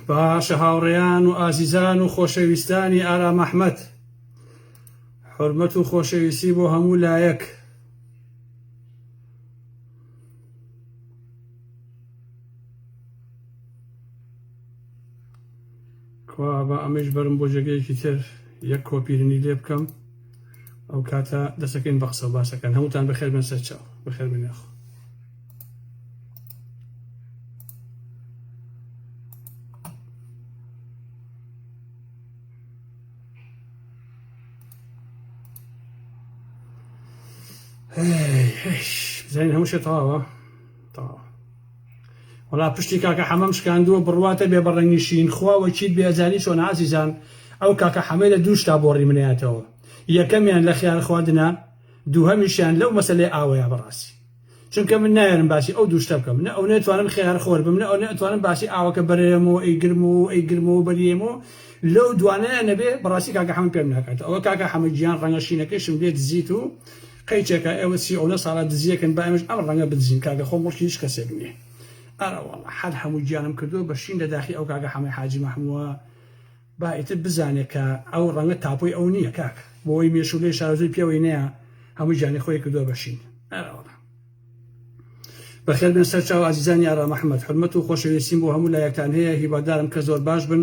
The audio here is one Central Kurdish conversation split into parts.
باشە هاوڕێیان و ئازیزان و خۆشەویستانی ئارام ئەحمەد حرمەت و خۆشەویستی بۆ هەموو لایەک کوا بە ئەمەش بەرم بۆ جێگەیەکی تر یەک کۆپیرنی لێ بکەم ئەو کاتە دەسەکەین بە قسە باسەکەن هەمووتان بەخێر بن سەرچاو بەخێر بنێخۆ زین هەموو شێ تەواوە تەواوە وڵا پشتی کاکە حەمەم شکاندووە بڕواتە بێ بەڕەنگیشین خواوە چیت بێزانی چۆن ئازیزان ئەو کاکە حەمەی لە دووشتا بۆ ڕیمنەتەوە یەکەمیان لە خیار خواردنە دووهەمیشیان لەو مەسلەی ئاوەیە بەڕاستی چونکە من نایەنم باسی ئەو دوو شتە بکەم نە ئەونە توانم خێار خۆر بم نە ئەونە ئەتوانم باسی ئاوەکە بەرێمەوە ئەی گرمەوە ئەی گرمەوە بەریێمەوە لەو دوانەیان نەبێ بەڕاستی کاکە حەمە پێم ناکاتەوە ئەوە کاکە حەمە گیان ڕەنگە شینەکەیشم لێ دزیت و قەیچێکە ئێوە سی ئەونە ساڵە دزیەکن با ئێمەش ئەم ڕەنگە بدزین کاکە خۆ مڵکی هیچ کەسێک نییە ئەرەوەڵا حەد هەموو گیانم کردووە بە شین لە داخی ئەو کاکە حەمەی حاجی مەحمووە با ئیتر بزانێ کە ئەو ڕەنگە تاپۆی ئەو نیە کاک بۆی مێشولەی شارەزوی پێوەی نەیە هەموو گیانی خۆی کردوە بە شین ئەرەوەڵا بەخێر بێن سەر چاو ئازیزانی ئارام ئەحمد حرمەت و خۆشەویستیم بۆ هەموو لایەکتان هەیە هیوادارم کە زۆر باش بن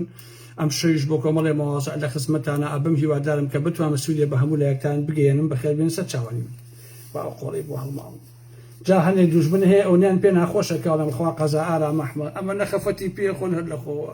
ئەم شەویش بۆ کۆمەڵێ مواز لە خزمەتانە ئەبم هیوادارم کە بتوانە سوودێ بە هەموو لایەکتان بگەیەنم بەخێر بێن سەر چاوانی من با ئەو قۆڵی بۆ هەڵماڵم جا هەنێ دوژمن هەیە ئەونیان پێ ناخۆشە کاڵم خوا قەزا ئارام ئەحمد ئەمە نەخەفەتی پێ خۆن هەر لەخۆوە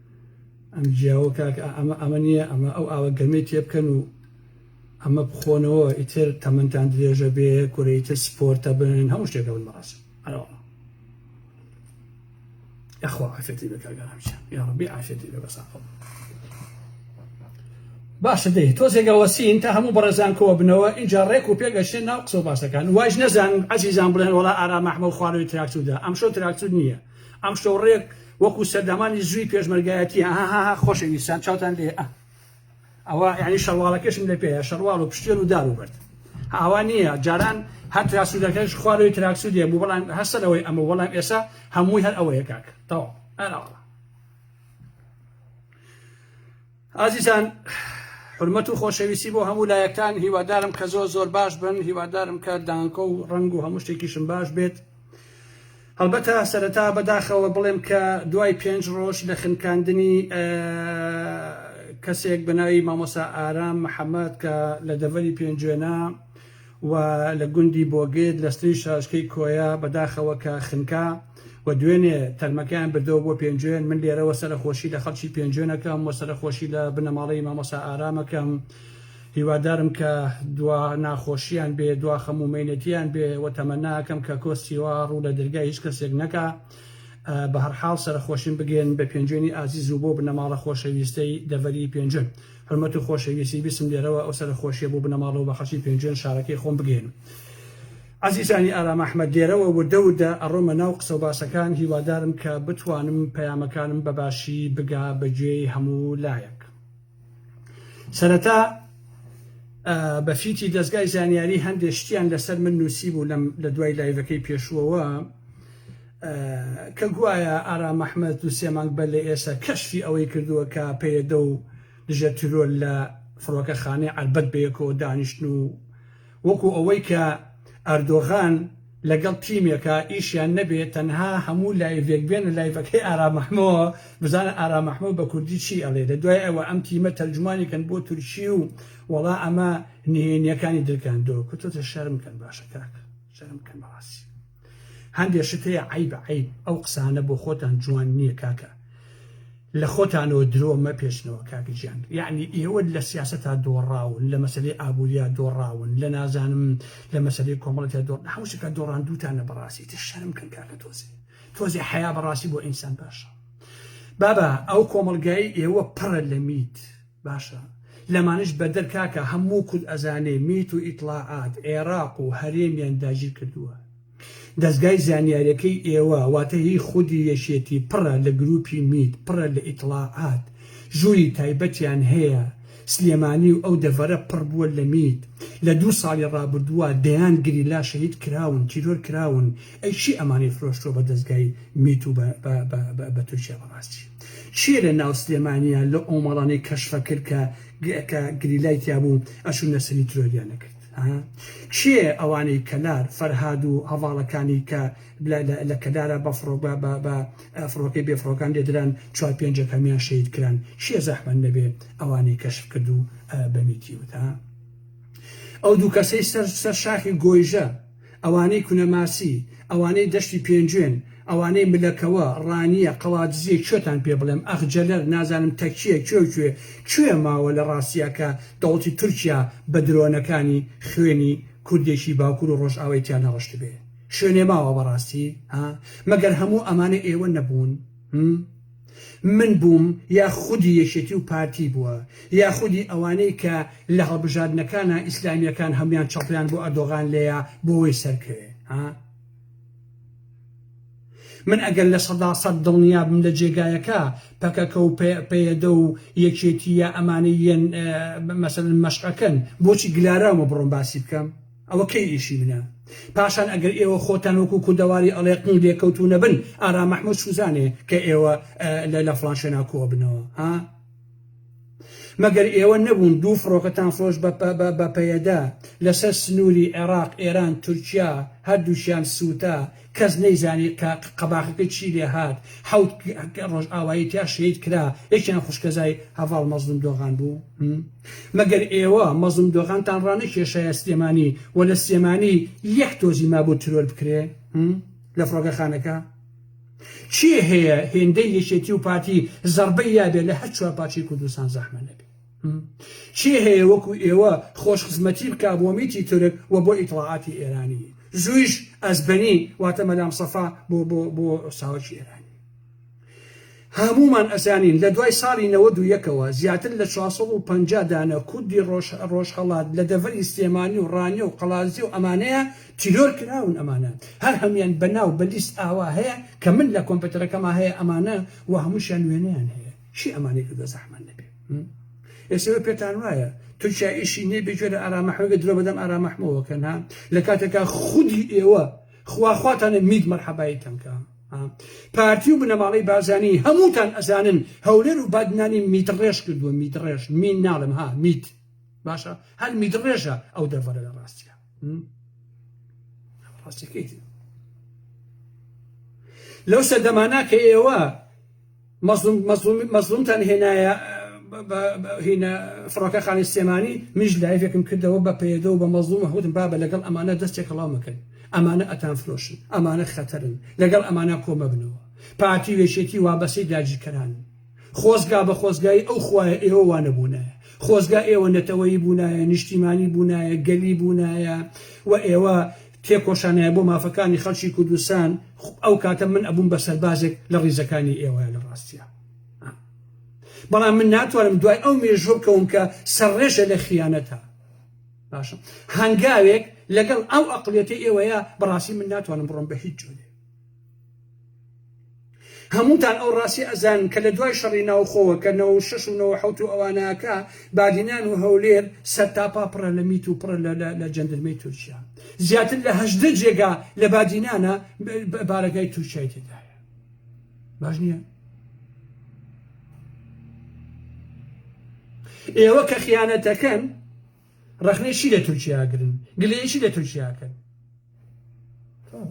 ئەم جیاوە کاکە ئەمە ئەمە نییە ئەمە ئەو ئاوە گەرمەی تێ بکەن و ئەمە بخۆنەوە ئیتر تەمەنتان درێژە بێ کورە ئیتر سپۆرتە بن هەموو شتێکە بن بەڕاست ئەرەوەڵا یاخوا عافێتی بە کاکە هەمچە یا ڕەبی عافێتی بێ بەساقە باشە دەی تۆزێگە وەسین تا هەموو بەڕێزان کۆوە بنەوە اینجا ڕێک و پێگەشتێن ناو قسە و باسەکان واش نەزان عزیزان بڵێن وڵا ئارام ئەحمە و خوارەوەی تراکتودا ئەمشۆ تراکتود نییە ئەمشەو ڕێک وەکو سەردەمانی زووی پێشمەرگایەتی هاهاها خۆشەویستان چاوتان لێ ئە ئەوە یعنی شەرواڵەکەشم لە پێەیە شەرواڵ و پشتێن و دار و بەرد ئاوا نییە جاران هەر تراسوودەکەش خوارەوەی تراکسود دێ بوو بەڵام هەستەرەوەی ئەمە بەڵام ئێسا هەمووی هەر ئەوەیە کاک تەواو ئەراوە ئازیزان حرمەت و خۆشەویستی بۆ هەموو لایەکتان هیوادارم کە زۆر زۆر باش بن هیوادارم کە دانکۆ و ڕنگ و هەموو شتێکیشم باش بێت هەڵبەتە سەرەتا بەداخەوە بڵێم کە دوای پێنج ڕۆژ لە خنکاندنی کەسێک بەناوی مامۆسا ئارام محەممەد کە لە دەڤەری پێنجوێنە و لە گوندی بۆگێت لە ستری شاشکەی کۆیە بەداخەوە کە خنکا و دوێنێ تەرمەکەیان بردەوە بۆ پێنجوێن، من لێرەوە سەرەخۆشی لە خەڵکی پێنجوێن ئەکەم و سەرەخۆشی لە بنەماڵەی مامۆستا ئارام ئەکەم، هیوادارم کە دوا ناخۆشیان بێ دوا خەم و مەینەتیان بێ و تەمەنا ئەکەم کە کۆ سیوا ڕوو لە دەرگای هیچ کەسێک نەکا، بەهەرحاڵ سەرەخۆشیم بگێن بە پێنجوێنی ئازیز و بۆ بنەماڵە خۆشەویستەی دەڤەری پێنجوێن. حورمەت و خۆشەویستی بیستم لێرەوە ئەو سەرەخۆشیە بۆ بنەماڵە و بە خەڵکی پێنجوێن شارەکەی خۆم بگەیەنم. ئازیزانی ئارام ئەحمەد لێرەوە وردە وردە ئەڕۆمە ناو قسە و باسەکان هیوادارم کە بتوانم پەیامەکانم بە باشی بگا بە گوێی هەموو لایەک. سەرەتا بە فیتی دەزگای زانیاری هەندێ شتیان لەسەر من نووسیبوو لەم لە دوای لایڤەکەی پێشووەوە، کە گوایە ئارام ئەحمەد و سێ مانگ بەر لە ئێسە کەشفی ئەوەی کردووە کە پەیەدە و دژە تیرۆر لە فڕۆکەخانەی عەربەت بەیەکەوە دانیشتن و وەکو ئەوەی کە ئەردۆغان لەگەڵ تیمێکە ئیشیان نەبێ تەنها هەموو لایڤێک بێنە لایڤەکەی ئارام ئەحمەوە بزانە ئارام ئەحمە بە کوردی چی ئەڵێ لە دوای ئەوە ئەم تیمە تەرجمانی کەن بۆ تورکی و وەڵا ئەمە نهێنیەکانی درکاندۆ کوتۆتە شەرم کەن باشە کاکە شەرم کەن بەڕاستی هەندێ شت هەیە عیب عیب ئەو قسانە بۆ خۆتان جوان نییە کاکە لە خۆتانەوە درۆ مەپێشنەوە کاکە گیان یعنی ئێوە لە سیاست تا دۆڕاون لە مەسلەی ئابووریا دۆڕاون لە نازانم لە مەسلەی کۆمەڵەتیا دۆڕ حوشەکە دۆڕان دووتانە بەڕاستی تر شەرم کەن کاکە تۆزێ تۆزێ حیا بەڕاستی بۆ ئینسان باشە بابا ئەو کۆمەلگای ئێوە پڕە لە میت باشە لەمانیش بەدەر کاکە هەموو کورد ئەزانێ میت و ئیتڵاعات عێڕاق و هەرێمیان داگیر کردووە دەزگای زانیاریەکەی ئێوە واتە هی خودی یەکێتی پڕە لە گروپی میت پڕە لە ئیتڵاعات ژووری تایبەتیان هەیە سلێمانی و ئەو دەڤەرە پڕ بووە لە میت لە دوو ساڵی ڕابردووە دەیان گریلا شەهید کراون تیرۆر کراون ئەی کێ ئەمانەی فرۆشتوە بە دەزگای میت و بە تورکیا بەڕاستی کێ لە ناو سلێمانیە لە ئۆمەڵانەی کەشفە کرد کە کە گریلای تیابوو ئەشو نەسەنی ترۆریان نەکرد کێ ئەوانەی کەلار فەرهاد و هەواڵەکانی کە لە کەلارە بە فڕۆک بە فڕۆکەی بێفڕۆکان لێدران چوار پێنجەکەمیان شەید کران کێ زەحمە نەبێ ئەوانەی کەشف کرد و بەمیتی وتا ئەو دوو کەسەی سەر سەر شاخی گۆیژە ئەوانەی کونەماسی، ئەوانەی دەشتی پێنجوێن، ئەوانەی ملەکەوە، ڕانیە، قەڵادزیە کوێتان پێ بڵێم، ئەخ جەلەر، نازانم تەکیە، کوێ و کوێ، کوێ ماوە لە ڕاستیا کە دەوڵەتی تورکیا بە درۆنەکانی خوێنی کوردێکی باکور و ڕۆژئاوای تیا نەڕشتبێ؟ شوێنێ ماوە بەڕاستی؟ ها؟ مەگەر هەموو ئەمانە ئێوە نەبوون؟ هم؟ من بووم یا خودی یەکێتی و پارتی بووە یا خودی ئەوانەی کە لە هەڵبژاردنەکانا ئیسلامیەکان هەموویان چەپڵیان بۆ ئەردۆغان لێیا بۆوەی سەرکەوێ ها؟ من ئەگەر لە سەدا سەد دڵنیابم لە جێگایەکە پەکەکە و پەیەدە و یەکێتی یا ئەمانەی یەن مەسەلەن مەشقەکەن بۆچی گلاراومە بڕۆم باسی بکەم؟ ئەوە کەی ئیشی منە؟ پاشان ئەگەر ئێوە خۆتان وەکو کوردەواری ئەڵێقن و لێکەوتو نەبن ئارام محمود سوزانێ کە ئێوە لە لە فلان شوێنا کۆ بنەوە ها مەگەر ئێوە نەبوون دوو فڕۆکەتان فرۆش بە پەیەدە لەسەر سنووری عێراق ئێران تورکیا هەردووشیان سووتا کەس نەیزانێت کە قەباخەکەی چی لێ هات، حەوت ڕۆژئاوایی تیا شەهید کرا، یەکیان خوشکەزای هەڤاڵ مەزڵوم دۆغان بوو. مەگەر ئێوە مەزڵوم دۆغانتان ڕانەکێشایە سلێمانی و لە سلێمانی یەک تۆزی مابوو ترۆر بکرێ لە فڕۆکەخانەکە؟ کێ هەیە هێندەی یەکێتی و پارتی زەڕبەی یابێ لە هەر چوار پارچەی کوردستان زەحمە نەبێ؟ کێ هەیە وەکو ئێوە خۆش خزمەتی بکا بۆ میتی تورک و بۆ ئیتڵاعاتی ئێرانی زویش ئەزبەنی واتە مەدام سەفا بۆ بۆ بۆ ساوەکی ئێرانی هەموومان ئەزانین لە دوای ساڵی نەوەد و یەکەوە زیاتر لە چوار سەد و پەنجا دانە کوردی ڕۆژ ڕۆژهەڵات لە دەڤەری سلێمانی و ڕانیە و قەڵادزێ و ئەمانەیە تیرۆر کراون ئەمانە هەر هەموویان بە ناو بە لیست ئاوا هەیە کە من لە کۆمپێتەرەکەما هەیە ئەمانە و هەمووشیان وێنەیان هەیە چی ئەمانەی کردە زەحمەن نەبێ ئێسەوە پێتان وایە تورکیا ئیشی نیە بێگوێ لە ئارامەحمەگە درۆ بەدەم ئارامەحمەوەکەن ها لە کاتێکا خودی ئێوە خواخواتانە میت مەرحەبایی تەنکە پارتی و بنەماڵی بازانی هەمووتان ئەزانن هەولێر و بادنانی میتڕێش کردووە میتڕێش مین ناڵم ها میت باشە هەر میتڕێژە ئەو دەڤەرە لە ڕاستە ڕاستەکەیت لەو سەردەمانە کە ئێوە مەزڵوم مەزڵوم مەزڵومتان هێنایە هینە فڕۆکەخانی سلێمانی منیش لایڤێکم کردەوە بە پەیەدە و بە مەزڵوم هەوتم بابە لەگەڵ ئەمانە دەستێک هەڵاو مەکەن ئەمانە ئەتان فرۆشن ئەمانە خەتەرن لەگەڵ ئەمانە کۆمەبنەوە پارتی وێشێتی وابەسەی داگیرکەران خۆزگا بە خۆزگای ئەو خوایە ئێوە وانەبوونە خۆزگا ئێوە نەتەوەیی بوونایە نیشتیمانی بوونایە گەلی بوونایە و ئێوە تێکۆشانایە بۆ مافەکانی خەڵکی کوردستان خوپ ئەو کاتە من ئەبووم بە سەربازێک لە ڕیزەکانی ئێوەە لە ڕاستیا ە بەڵام من ناتوانم دوای ئەو مێژوە بکەوم کە سەرڕێژە لە خیانەتە باشە هەنگاوێک لەگەڵ ئەو ئەقلیەتی ئێوەیە بەڕاستی من ناتوانم بڕۆم بە هیچ جۆرێ هەمووتان ئەو ڕاستیە ئەزانن کە لە دوای شەڕی ناوخۆوە کە نەوەو شەش و نەوەو حەوت و ئەواناکا بادینان و هەولێر سەرتاپا پڕە لە میت و پڕە لە جەندرمەی تورکیا زیاتر لە هەژدە جێگا لە بادینانە بارەگای تورکیای تێدایە باش نییە ئێوە کە خیانەتەکەن ڕەخنەی چی لە تورکیا ئەگرن گلەیی چی لە تورکیا ئەکەن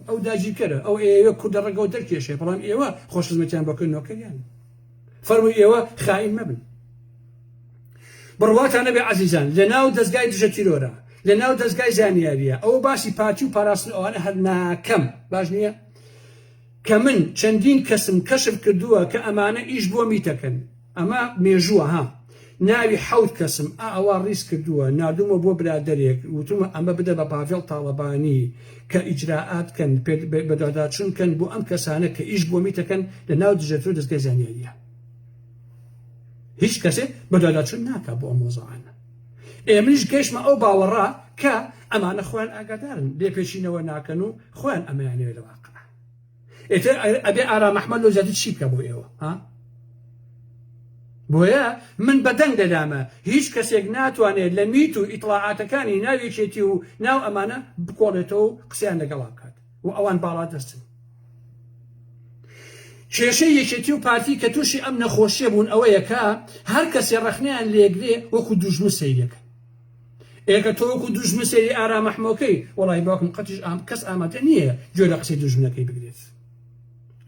ئەو داگیرکەرە ئەو ئێوە کوردە ڕەگەوە دەرکێشێ بەڵام ئێوە خۆش خزمەتیان بەکەن نۆکەریان فەرمووی ئێوە خائین مەبن بڕواتانە بێ عزیزان لە ناو دەستگای دژە تیرۆرە لە ناو دەستگای زانیاریە ئەو باسی پارتی و پاراستن ئەوانە هەرناکەم باش نییە کە من چەندین کەسم کەشف کردووە کە ئەمانە ئیش بۆ میتەکەن ئەمە مێژووە ها ناوی حەوت کەسم ئا ئەوا ڕیز کردووە ناردوومە بۆ برادەرێک وتومە ئەمە بدە بە پاڤێڵ تاڵەبانی کە ئیجرائات کەن بەدواداچون کەن بۆ ئەم کەسانە کە ئیش بۆ میتەکەن لە ناو دژەتۆ دەزگای زانیاریە هیچ کەسێ بەدواداچون ناکا بۆ ئەم مۆزەعانە. ئێ منیش گەیشتمە ئەو باوەڕە کە ئەمانە خۆیان ئاگادارن لێپێچینەوە ناکەن و خۆیان ئەمەیانەوێ لە واقع ئێتر ئەبێ ئارام ئەحمەد لەو زیاتر چی بکە بۆ ئێوە ها بۆیە من بەدەنگ دەدامە هیچ کەسێک ناتوانێت لە میت و ئیتڵاعاتەکانی ناویەکێتی و ناو ئەمانە بکۆڵێتەوە و قسەیان لەگەڵا بکات و ئەوان باڵادەستن کێشەی یەکێتی و پارتی کە تووشی ئەم نەخۆشیە بوون ئەوەیە کە هەر کەسێ ڕەخنیان لێگرێ وەکو دوژمن سەیرەکە ئێکە تۆ وەکو دوژمن سەیری ئارامەحمۆکەی وڵی باکم قەتیش ئام کەس ئامادە نییە گوێ لە قسەی دوژمنەکەی بگرێت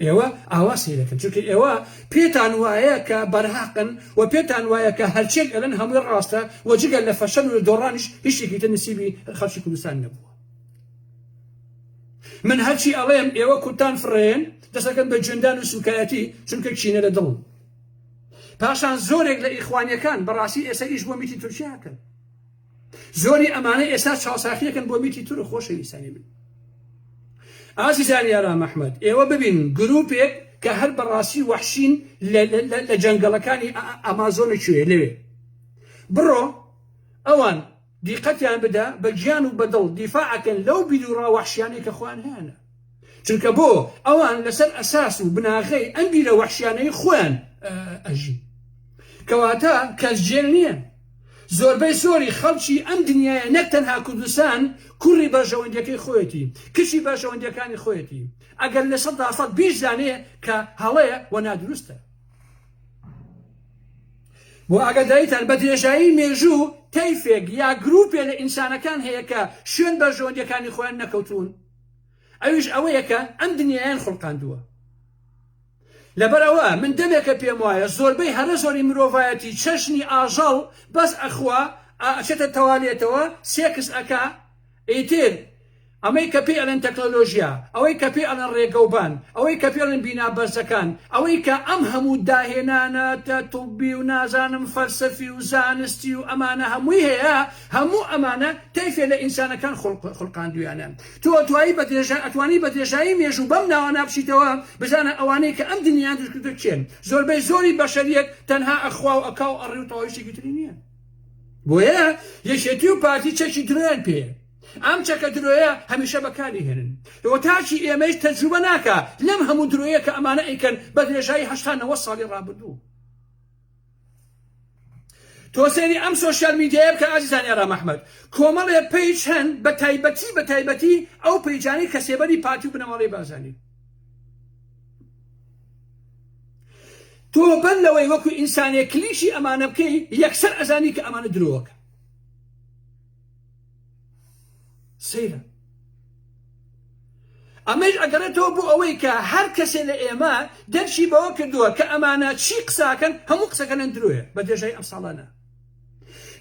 ئێوە ئاوا سیرەکەن چونکە ئێوە پێتان وایە کە بەرهاقن و پێتان وایە کە هەرچێک ئەلەن هەمووی ڕاستە و جگەل لە فەشەن و دۆڕانش هیچێکی تە نسیبی خەڵکی کوردستان نەبووە من هەرچی ئەڵێم ئێوە کورتان فڕێن دەسەکەن بە جوێندان و سوکایەتی چونکە کینە لە دڵم پاشان زۆرێک لە ئیخوانیەکان بەڕاستی ئێستا ئیش بۆ میتی تورکیاکەن زۆری ئەمانە ئێستا چاوساخیەکەن بۆ میتی تور خۆشەویستانی من ئازیزانی ئارام ئەحمد ئێوە ببین گروپێک کە هەر بەڕاستی وەحشین لە جەنگەڵەکانی ئەمازۆنە کوێ لەوێ بڕۆ ئەوان دیقەتیان بدە بە گیان و بە دڵ دیفاع ئەکەن لەو بیروڕا وەحشیانەی کە خۆیان هەیانە چونکە بۆ ئەوان لەسەر ئەساس و بناغەی ئەم بیرە وەحشیانەی خۆیان ئەژین کەواتە کەس جێل نییە زۆربەی زۆری خەڵکی ئەم دنیاە نەک تەنها کوردستان کوڕی بەرژەوەندەکەی خۆیەتی کچی بەرژەوەندەکانی خۆیەتی ئەگەر لە سەدا سەد بیش زانێ کە هەڵەیە و نادروستە بۆ ئاگاداریتان بە درێژایی مێژوو تەیفێک یا گروپێ لە ئینسانەکان هەیە کە شوێن بە ژۆندیەکانی خۆیان نەکەوتون ئەویش ئەوەیەکە ئەم دنیایان خڵقاندووە لەبەرەوە من دەمێکە پێم وایە زۆربەی هەرە زۆری مرۆڤایەتی چەشنی ئاژەڵ بەس ئەخوا ئەچێتە تەوالێتەوە سێکس ئەکا ئیتر ئەمەی کە پێی ئەڵێن تەکنۆلۆژیا، ئەوەی کە پێی ئەڵێن ڕێگەوبان، ئەوەی کە پێی ئەڵێن بینا بەرزەکان، ئەوەی کە ئەم هەموو داهێنانە تۆبی و نازانم فەلسەفی و زانستی و ئەمانە هەمووی هەیە، هەموو ئەمانە تەیفێ لە ئینسانەکان خولقاندوویانە. تۆ دوایی بە درێژایی، ئەتوانی بە درێژایی مێژوو بەم ناوانە بچیتەوە، بزانە ئەوانەی کە ئەم دنیایان دروست کردووە کێن؟ زۆربەی زۆری بەشەریەت تەنها ئەخوا و ئەکا و ئەڕی و تەواوی شتێکی تری نییە. بۆیە یەکێتی و پارتی چەکی درۆیان پێیە ئەم چەکە درۆیە هەمیشە بەکاری هێنن ئەوە تاکی ئێمەیش تەجروبە ناکە لەم هەموو درۆیە کە ئەمانە ئەیکەن بە درێژایی هەشتا نەوە ساڵی ڕابردوو تۆسێری ئەم سوۆسیال میدیایە بکە ئازیزان ئێرا محمد کۆمەڵێ پیج هەن بە تایبەتی بە تایبەتی ئەو پیجانەی کە سێبەری پارتی و بنەماڵەی بازانی تۆ بەر لەوەی وەکو ئینسانێک کلیشی ئەمانە بکەی یەکسەر ئەزانی کە ئەمانە درۆکە سەیرە ئەمەش ئەگەڕێتەوە بۆ ئەوەی کە هەر کەسێ لە ئێمە دەرشی بەوە کردووە کە ئەمانە چی قساکەن هەموو قسەکەنەن درۆێ بە درێژای ئەم ساڵانە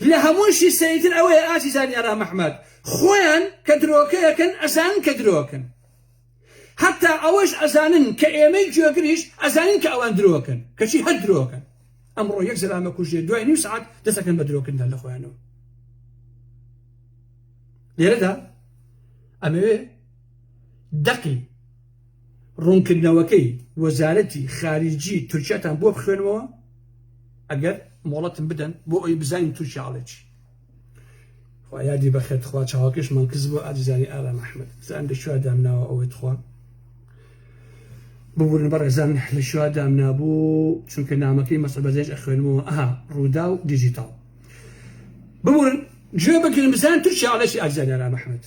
لە هەمووشی سەیتر ئەوەیە ئازیزانی ئارا مححمد خۆیان کە درۆکەکەن ئەزان کە درۆکەن هەتا ئەوەش ئەزانن کە ئێمەی گوێگریش ئەزانین کە ئەوان درۆکەن کەچی هەر درۆکەن ئەمڕۆ یەک زەلامە کوژێ دوای نیو سعات دەسەکەن بە درۆکردن لە خۆیانەوە لێرەدا ئەمەوێ دەقی ڕوونکردنەوەکەی وەزارەتی خارجی تورکیاتان بۆ بخوێنەوە ئەگەر مۆڵەتم بدەن بۆ ئەوی بزانین تورکیاڵێکی خوا یادی بەخێر تخوا چاوەکەشمان کز بۆ ئازیزانی ئارام ئەحمد زان لە شووا دامناوە ئەوەی تخوا ببورن بە ڕێزان لە شووا دامنابوو چونکە نامەکەی مەسە بەزێش ئەخوێنمەوە ئەها ڕوودا و دیجیتال ببورن گوێ بگرن بزان تورکیا ئەڵێکی ئازیزانی ئارام ئەحمد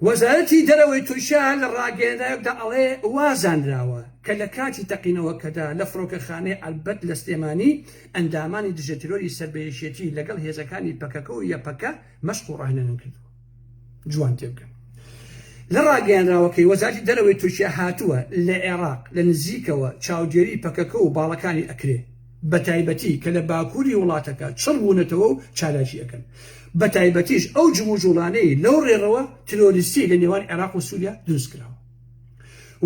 وەزارەتی دەرەوەی تورکیا لە ڕاگەیەنراوێکدا ئەڵێ وازانراوە کە لە کاتی تەقینەوەکەدا لە فڕۆکەخانەی ئەلبەت لە سلێمانی ئەندامانی دژە تیرۆری سەر بە یەکێتی لەگەڵ هێزەکانی پەکەکە و یەپەکە مەشق و ڕاهێنانیان کردووە. جوان تێبگەن لە ڕاگەیەنراوەکەی وەزارەتی دەرەوەی تورکیا هاتووە لە عێراق لە نزیکەوە چاودێری پەکەکە و باڵەکانی ئەکرێ. بەتایبەتی کە لە باکوری وڵاتەکە چڕ بوونەتەوە و چالاکی ئەکەن بەتایبەتیش ئەو جموجوڵانەی لەو ڕێڕەوە ترۆریستی لە نێوان عێراق و سوریا دروست کراوە.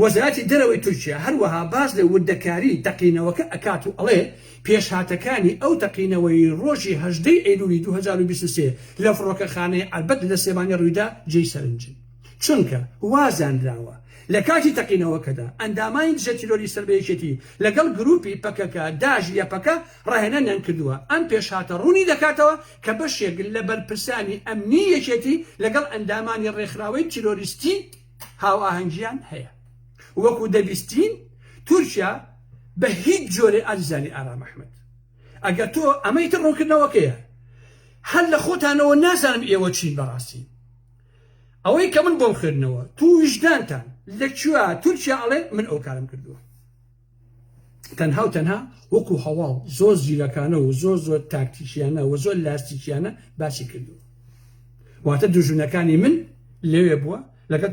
وەزارەتی دەرەوەی تورکیا هەروەها باس لە وردەکاری تەقینەوەکە ئەکات و ئەڵێ پێشهاتەکانی ئەو تەقینەوەی ڕۆژی هەژدە ی ئەیلولی دوو هەزار و بیست و سێ لە فڕۆکەخانەی عەربەت لە سلێمانی ڕوویدا جێی سەرنجن. چونکە وا زانراوە لە کاتی تەقینەوەکەدا ئەندامانی دژە تیرۆری سەر بە یەکێتی لەگەڵ گرووپی پەکەکە، داعش و یەپەکە ڕاهێنانیان کردووە. ئەم پێشهاتە ڕوونی دەکاتەوە کە بەشێک لە بەرپرسانی ئەمنیی یەکێتی لەگەڵ ئەندامانی ڕێکخراوەی تیرۆریستی هاوئاهەنگییان هەیە. وەکو دەبیستین تورکیا بە هیچ جۆرێ ئازیزانی ئارام ئەحمەد ئەگەر تۆ ئەمە ئیتر ڕوونکردنەوەکەیە هەر لە خۆتانەوە نازانم ئێوە چین بەڕاستی. ئەوەی کە من بۆم خوێندنەوە تو ویژدانتان لە کوێ تورکیا ئەڵێ من ئەو کارم کردووە تەنها و تەنها وەکو هەواڵ زۆر زیرەکانە و زۆر زۆر تاکتیکیانە و زۆر لاستیکیانە باسی کردووە واتە دوژونەکانی من لەوێ بووە لەگەڵ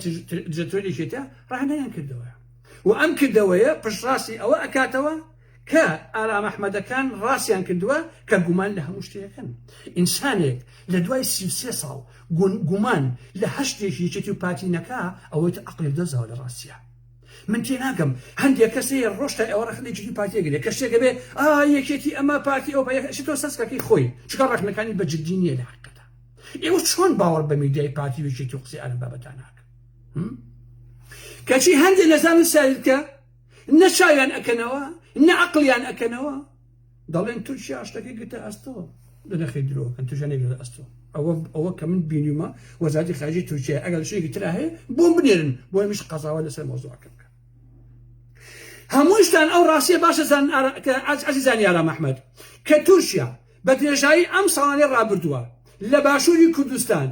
جەتۆری شێتا ڕانیان کردەوە و ئەم کردەوەیە پشڕاستی ئەوە ئەکاتەوە کە ئارام ئەحمەدەکان ڕاستیان کردووە کە گومان لە هەموو شتێکن ئینسانێک لە دوای سی و سێ ساڵ گومان لە هەر شتێکی یەکێتی و پارتی نەکا ئەوەی تە عەقڵی دەزاوە لە ڕاستیە من تێناگەم هەندێک کەس هەیە ڕۆشتای ئەوە ڕەخنە یەکێتی پارتیە گرێ کە شتێکە بێ ئا یەکێتی ئەمە پارتی ئەو بەیەکشی تۆ سەسکەکەی خۆی چکە ڕەخنەکانی بە جددی نییە لە حقەدا ئێوە چۆن باوەڕ بە میدیای پارتی و یەکێتی و قسەی ئەم بابەتانە کەچی هەندێک لە زانستیان کە نە چاویان ئەکەنەوە نە عقلیان ئەکەنەوە دەڵێن تورکیا شتەکەی گرتە ئەستەوە لە نەخی درۆکەن توژانێک لە ئەستەوە ئەوە ئەوە کە من بینیمە وەزاتی خارجی تورکیا ئەگەر شێکی تررا هەیە بۆ بنێرن بۆ مش قەزاوە لەسەر مۆزۆکە بکە هەمووشتان ئەو ڕاستیە باشەزان ئازیزان یارا مححمد کە تورکیا بە درێژایی ئەم ساڵانەی ڕابردووە لە باشووری کوردستان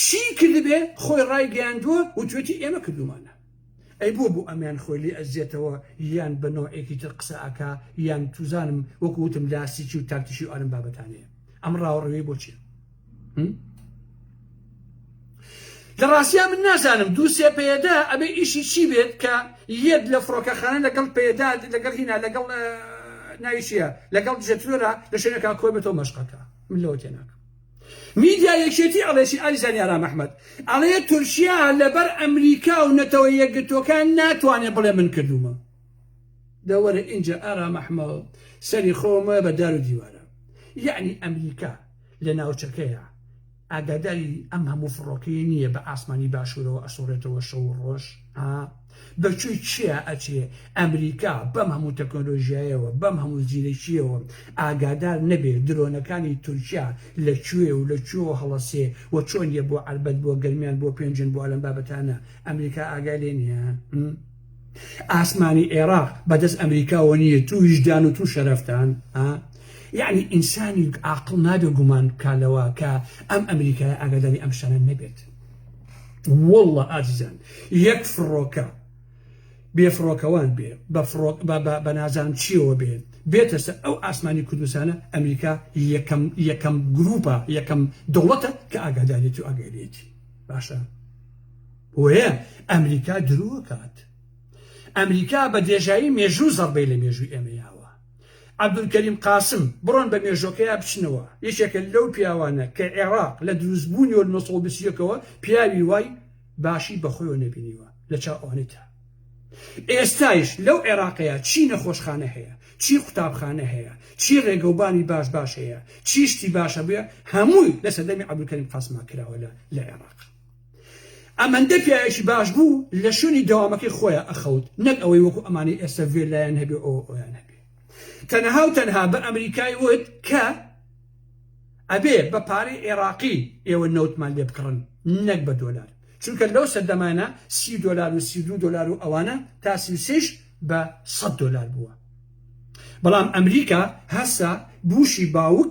چی کردبێ خۆی ڕای گەیاندووە وتوێتی ئێمە کردومانە ئەی بۆ بۆ ئەمیان خۆی لێ ئەزیەتەوە یان بە نەوعێکی تر قسە ئەکا یان توزانم وەکو وتم لاستیکی و تاکتیکی و ئەرم بابەتانەیە ئەم ڕاوەڕوێی بۆ چیە لە ڕاستیا من نازانم دوو سێ پێدا ئەبێ ئیشی چی بێت کە یەت لە فڕۆکەخانە لەگەڵ پێدا لەگەڵ هینا لەگەڵ ناویشیە لەگەڵ جێترۆرا لە شوێنەکە کۆی بە تۆ مەشقەکە من لەوە تێناکەم میدیا یەکێتی ئەڵێتی ئاری زانی ئارام ئەحمەد ئەڵێ تورکیا لەبەر ئەمریکا و نەتەوە یەکگرتووەکان ناتوانێ بڵێ من کردوومە دە وەرە ئینجا ئارام ئەحمەد سەری خۆمە بە دار و دیوارە یعنی ئەمریکا لە ناوچەکەیە ئاگاداری ئەم هەموو فڕۆکەیە نییە بە ئاسمانی باشوورەوە ئەسوڕێتەوە شەو و ڕۆژ ئا بە کوێی کێیا ئەچێ ئەمریکا بەم هەموو تەکنۆلۆژیایەوە بەم هەموو زیرەکیەوە ئاگادار نەبێ درۆنەکانی تورکیا لە کوێ و لە کوێوە هەڵەسێ و چۆن یە بۆ عەربەت بۆ گەرمیان بۆ پێنجن بۆ ئەلەم بابەتانە ئەمریکا ئاگای لێ نیە م؟ ئاسمانی ئێراق بەدەست ئەمریکاوە نیە تو ویژدان و تو شەرەفتان ئا یعنی ئینسانی ئاقڵ نابێ گومان بکا لەوە کە ئەم ئەمریکایە ئاگاداری ئەم شتانە نەبێت وەڵڵە ئازیزان یەک فڕۆکە بێ فڕۆکەوان بێ بە فڕۆک بە نازان چیەوە بێ بێتە سەر ئەو ئاسمانی کوردستانە ئەمریکا یەکەم یەکەم گروپە یەکەم دەوڵەتە کە ئاگادارێتی و ئاگەرێتی باشە وەیە ئەمریکا درۆکات ئەمریکا بە دێژایی مێژوو زەڕبەی لە مێژووی ئێمەیاوە عەبدولکەریم قاسم، بڕۆن بە مێژۆکەیا بچنەوە، یەکێکە لەو پیاوانە کە عێراق لە دروست بوونیەوە لە نۆ سەد و بیست و یەک ەوە پیاوی وای باشی بە خۆیەوە نەبینیوە لە چاو ئەوەنەی تر ئێستایش لەو عێراقەیا چی نەخۆشخانە هەیە چی قوتابخانە هەیە چی ڕێگەوبانی باش باش هەیە چی شتی باش هەبووە هەمووی لە سەردەمی عەبدولکەریم قاسما کراوە لە لە عێراق. ئەمەندە پیاوێکی باش بوو لە شوێنی دەوامەکەی خۆیا ئەخەوت نەک ئەوەی وەکو ئەمانەی ئێستا ڤێللایان هەبێ ئەوە ئەویان هەبێ تەنها و تەنها بە ئەمریکای وت کە ئەبێ بە پارەی عێراقی ئێوە نەوتمان لێ بکڕن نەک بە دۆلار چونکە لەو سەردەمانە سی دۆلار و سی دو دۆلار و ئەوانە تا سیسیش بە سەد دۆلار بووە بەڵام ئەمریکا هەسا بوشی باوک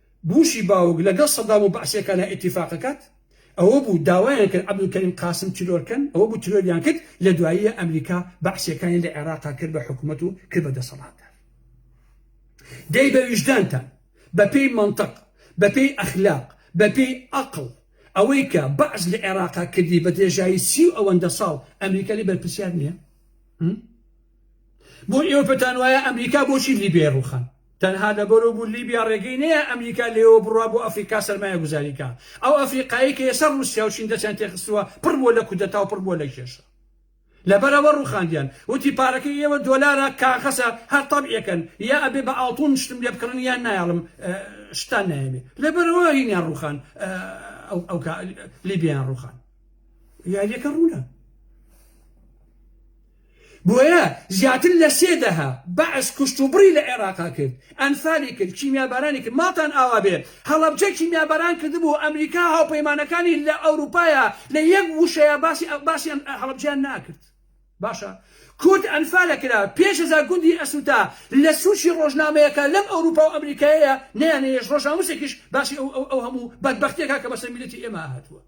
بوشی باوک لەگەڵ سەدام و بەعسیەکانا ئیتیفاق ئەکات ئەوە بوو داوایان کرد عبدالکریم قاسم تیرۆر کەن ئەوە بوو تیرۆریان کرد لە دواییە ئەمریکا بەعسیەکانی لە عێراقا کرد بە حکومەت و کرد بە دەسەڵاتدار دەی بە ویژدانتان بە پێی مەنتەق بە پێی ئەخلاق بە پێی ئەقڵ ئەوەی کە بەعس لە عێراقا کردی بە درێژایی سی و ئەوەندە ساڵ ئەمریکا لێ بەرپرسیار نییە؟ بۆ ئێوە پێتان وایە ئەمریکا بۆچی لیبیای ڕوخان تەنها لەبەرو بوو لیبیا ڕێگەی نەیا ئەمریکا لێوە بڕوا بۆ ئەفریقا سەرمایە گوزاری کا ئەو ئەفریقایی کە ئێستا ڕوسیا و چین دەچان تێخستووە پڕ بووە لە کودەتا و پڕ بووە لە کێشە لەبەرەوە ڕوخاندیان وتی پارەکەی ئێوە دۆلارە کاغەسە هەر تەبعەکەن یا ئەبێ بە ئاڵتون شتم لێ بکڕن یان نایاڵم شتان نایەوێ لەبەرەوە هینیان ڕوخان ئەو لیبیان ڕوخان یاریەکە ڕوونە بۆیە زیاتر لە سێ دەهە بەعس کوشت و بڕی لە عێراقا کرد، ئەنفالی کرد، کیمیابارانی کرد، ماڵتان ئاوا بێ هەڵەبجە کیمیاباران کردبوو، ئەمریکا و هاوپەیمانەکانی لە ئەوروپایا لە یەک وشەیا باسی باسی هەڵەبجەیان ناکرد. باشە کورد ئەنفالە کرا پێنج هەزار گوندی ئەسووتا لە سووچی ڕۆژنامەیەکە لەم ئەوروپا و ئەمریکایەیا نەیانەیەشت ڕۆژنامووسێکیش باسی ئەو ئەو ئەو هەموو بەدبەختیەکا کە بەسەر میللەتی ئێمە هاتووە.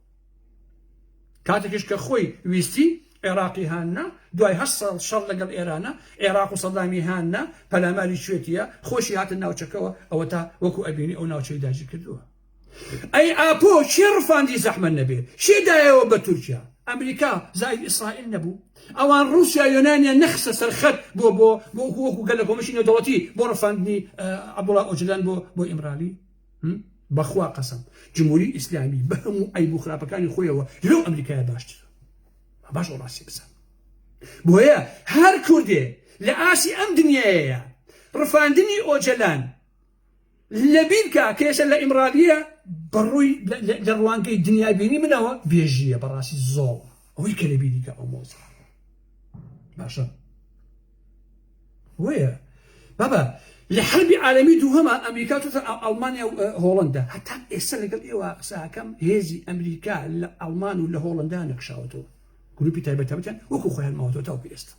کاتێکیش کە خۆی ویستی عێراقی هاننا دوای هە ساڵ شەڕ لەگەڵ ئێرانە عێراق و سەدامی هاننا پەلاماری شوێتیە خۆشی هاتە ناوچەکەەوە ئەوە تا وەکو ئەبینی ئەو ناوچەی داجی کردووە ئەی ئاپۆ شێ ڕفاندی زەحمە نەبێ شێدایەوە بە تورکیا ئەمریکا زای ئیسرائیل نەبوو ئەوان رووسیا یۆنانیان نەخسە سەرخەت بۆ بۆ بۆ وەکو گەل لە کۆمەشی نەدەوەتی بۆ ڕفاندنی عبدوڵا ئۆجلان بۆ بۆ ئیمرالی هم بەخوا قەسەم جمهوری ئیسلامی بە هەموو عیب و خراپەکانی خۆیەوە لەو ئەمریکایە باشترە باش و ڕاستی بزان بۆیە هەر کوردێ لە ئاسی ئەم دنیایەیە ڕفاندنی ئۆجەلان لەبیرکە کێشە لە ئیمرالیە بەڕووی لە ڕوانگەی دنیابینی منەوە بێژیە بەڕاستی زۆڵ ئەوەی کە لەبیریکە ئەو مۆزە باشە بۆیە بابە لە حەربی عالەمی دووهەما ئەمریکا چۆتە ئەڵمانیا و هۆڵندا هەتا ئێستا لەگەڵ ئێوە قساکەم هێزی ئەمریکا لە ئەڵمان و لە هۆڵندا نەکشاوەتەوە گروپی تایبەتەبتیان وەکو خۆیان ماوەتەوە تاوکو ئێستا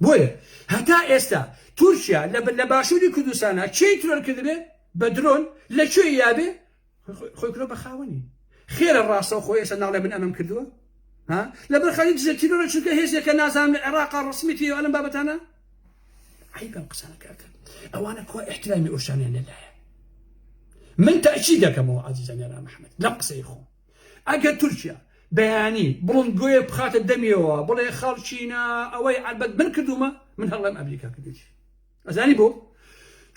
بۆیە هەتا ئێستا تورکیا لە باشووری کوردستانە چی ترۆر کردبێ بە درۆن لە کوێ یابێ خۆی کرۆ بەخاوەنی خێرە ڕاستەو خۆ ئێسە ناڵێ من ئەمەم کردووە ها لەبەر خەری دزە تیرۆرە چونکە هێزێکە نازانم لە عێراق ڕسمی تێ ئەلم بابەتانە عیبم قسانەکەکە ئەوانە کوا احترامی ئۆشانیان لەلایە من تاچی دەکەمەوە عزیزانیان محمد لەم قسەی خۆ ئەگەر تورکیا بەیانی بڵندگوۆیە بخاتە دەمیەوە بڵێ خەڵچینە ئەوەی عبەت من کردومە من هەڵڵێم ئەمریکا کردێتی ئەزانی بۆ؟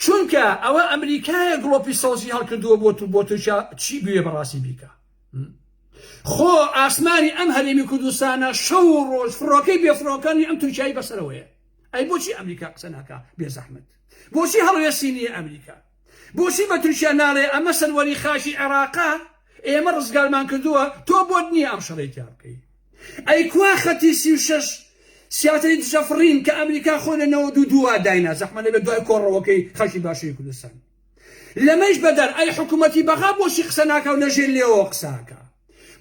چونکە ئەوە ئەمریکایە گڵۆپی سەوزی هەڵکردووە بۆ تو بۆ تورکیا چی بوێ بەڕاستی بیکە خۆ ئاسمانی ئەم هەرێمی کوردستانە شەو و ڕۆژ فڕۆکەی بێفرۆکانی ئەم تورکیایی بەسەرەوەیە ئەی بۆچی ئەمریکا قسە ناکە بێزەحمت بۆچی هەڵوێستی نییە ئەمریکا بۆچی بە تورکیا ناڵێ ئەمە سەروەری خاکی عێڕاقە ئێمە ڕزگارمان کردووە تۆ بۆت نییە ئەم شەڕەی تیا بکەی ئەی کوا خەتی سی و شەش سیاتری دژە فڕین کە ئەمریکا خۆی لە نەوەد و دوو وا داینا زەحمە لەبێ دوای کۆڕەوەکەی خەکی باشووری کوردستان لەمەیش بەدەر ئەی حکوومەتی بەغا بۆچی قسە ناکا و لەژێر لێوەوە قسە ئەکا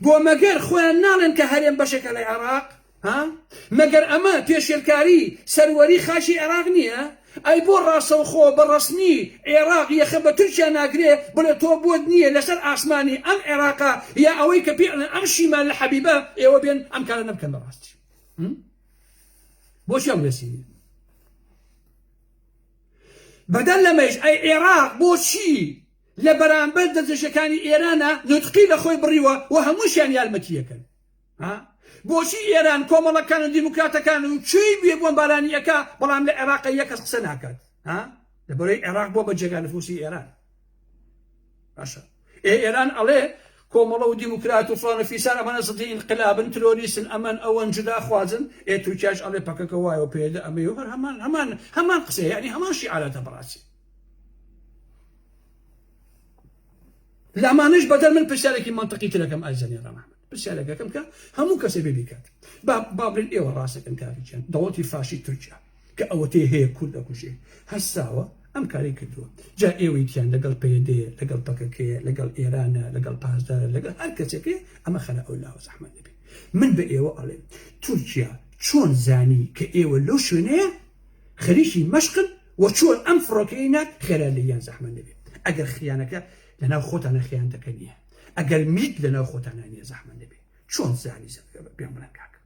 بۆ مەگەر خۆیان ناڵێن کە هەرێم بەشێکە لە عێڕاق ها مەگەر ئەمە پێشێلکاری سەروەری خاکی عێراق نیە؟ ئەی بۆ ڕاستەوخۆ بە ڕەسمی عێراق یەخە بە تورکیا ناگرێ بڵێ تۆ بۆت نیە لەسەر ئاسمانی ئەم عێراقە یا ئەوەی کە پێ ئەڵێن ئەم شیمال لە حەبیبە ئێوە بێن ئەم کارە نەبکەن بە ڕاستی بۆچی ئەم ڕێسی نیە بەدەر لەمەیش ئەی عێراق بۆچی لە بەرامبەر دەستدرێژەکانی ئێرانە نوتقی لە خۆی بڕیوە و هەمووشیان یارمەتیەکەن ها بۆچی ئێران کۆمەڵەکان و دیموکراتەکان و چی بێ بۆمبارانی ئەکا بەڵام لە عێراق یە کەس قسە ناکات ها لەبەرەی عێراق بۆ بە جێگا نفوسی ئێران باشە ئێ ئێران ئەڵێ کۆمەڵە و دیموکرات و فلانە فیسان ئەمانە زدی انقلابن ترۆریسن ئەمەن ئەوەن جدا خوازن ئێ تورکیاش ئەڵێ پەکەکە وایە پێدە ئەمە هەر هەمان هەمان هەمان قسە ینی هەمان شیعارەتە بەڕاستی لەمانەش بەدەر من پرسیارێکی مەنتەقی ترەکەم ئای زەنی ڕەمان پرسیارەکەکەم کە هەموو کەسێ بێ بیکات بابلین ئێوە ڕاستەکەن کاریان دەوڵەتی فاشی تورکیا کە ئەوەتەی هەیە کورد دەکوژێ هەستاوە ئەم کاری کردووە جا ئێوەیتیان لەگەڵ پەیدێ لەگەڵ پەکەکەیە لەگەڵ ئێرانە لەگەڵ پاسدارە لەگەڵ هەر کەسێکێ ئەمە خەرە ئەو لاوە زەحمەت دەبێت من بە ئێوە ئەڵێن تورکیا چۆن زانی کە ئێوە لەو شوێنەیە خەریکی مەشقن وە چۆن ئەم فڕۆکەیەی نارد خێرا لێی یان زەحمەت نەبێ ئەگەر خیانەکە لەناو خۆتانە خیانەتەکە نیە ئەگەر میت لەناو خۆتانا نیە زەحمەت نەبێ چۆن زانی زەبگەبە پێم بڵێن کاکە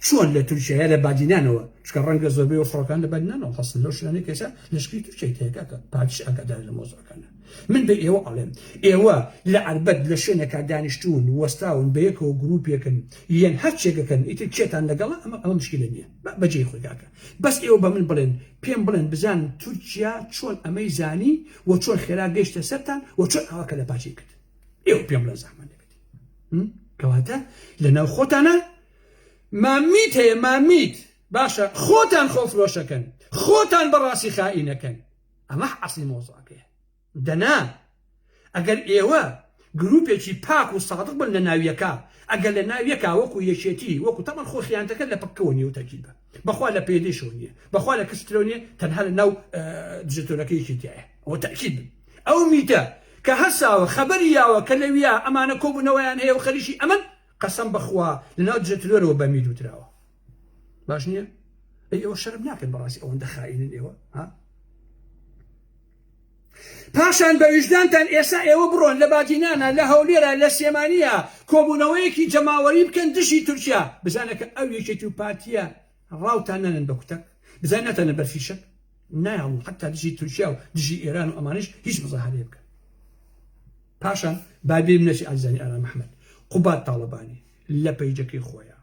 چۆن لە تورکیایە لە بادینانەوە چکە ڕەنگە زۆربەی و فڕۆکان لە بادینانەوە هەڵسن لەو شوێنەی کەسە لەشکری تورکیای تێکاکە پارتیش ئاگادار لە مۆزەکانە من بە ئێوە ئەڵێم ئێوە لە عربەت لە شوێنێکا دانیشتون وەستاون بە یەکەوە گروپێکن یەن هەر چێگەکەن ئیتر کێتان لەگەڵە ئەمە ئەمە مشکلە نییە بەجێی خۆی کاکە بەس ئێوە بە من بڵێن پێم بڵێن بزانم تورکیا چۆن ئەمەی زانی و چۆن خێرا گەیشتە سەرتان و چۆن ئاوا کەلە پاچەی کرد ئێوە پێم بڵێن زەحمەت نەبێت کەواتە لە ناو خۆتانە مامیت هەیە مامیت باشە خۆتان خۆفرۆشەکەن خۆتان بەڕاستی خائینەکەن ئەمە عەسڵی مۆزاکەیە دەنا ئەگەر ئێوە گروپێکی پاک و سادق بن لە ناو یەکا ئەگەر لە ناو یەکا وەکو یەکێتی وەکو تەبەن خۆ خیانەتەکە لە پککەوە نیە و تەرکیبە بەخوا لە پەیەدەیشەوە نیە بەخوا لە کسترەوە نیە تەنها لە ناو دژەتۆرەکە یەکێتیایە ئەوە تەرکیب بن ئەو میتە کە هەساوە خەبەری یاوە کە لەویا ئەمانە کۆبوونەوەیان هەیە و خەریکی ئەمن قەسەم بەخوا لە ناو دژەترۆرەوە بە میر وتراوە باش نییە ئەی ئەوە شەرم ناکەن بەڕاستی ئەوەندە خائینن ئێوە ها پاشان بە ویژدانتان ئێسا ئێوە بڕۆن لە باجینانە لە هەولێرە لە سلێمانیە کۆبوونەوەیەکی جەماوەری بکەن دژی تورکیا بزانە کە ئەو یەکێتی و پارتیە ڕاوتان نەنن بە کوتەک بزان ناتەنە بەر فیشەک نایڵم حتا دژی تورکیا و دژی ئێران و ئەمانش هیچ مزاهرێ بکەن پاشان بابیم نەچی ئازانی ئارام محمد قوباد تاڵەبانی لە پەیجەکەی خۆیان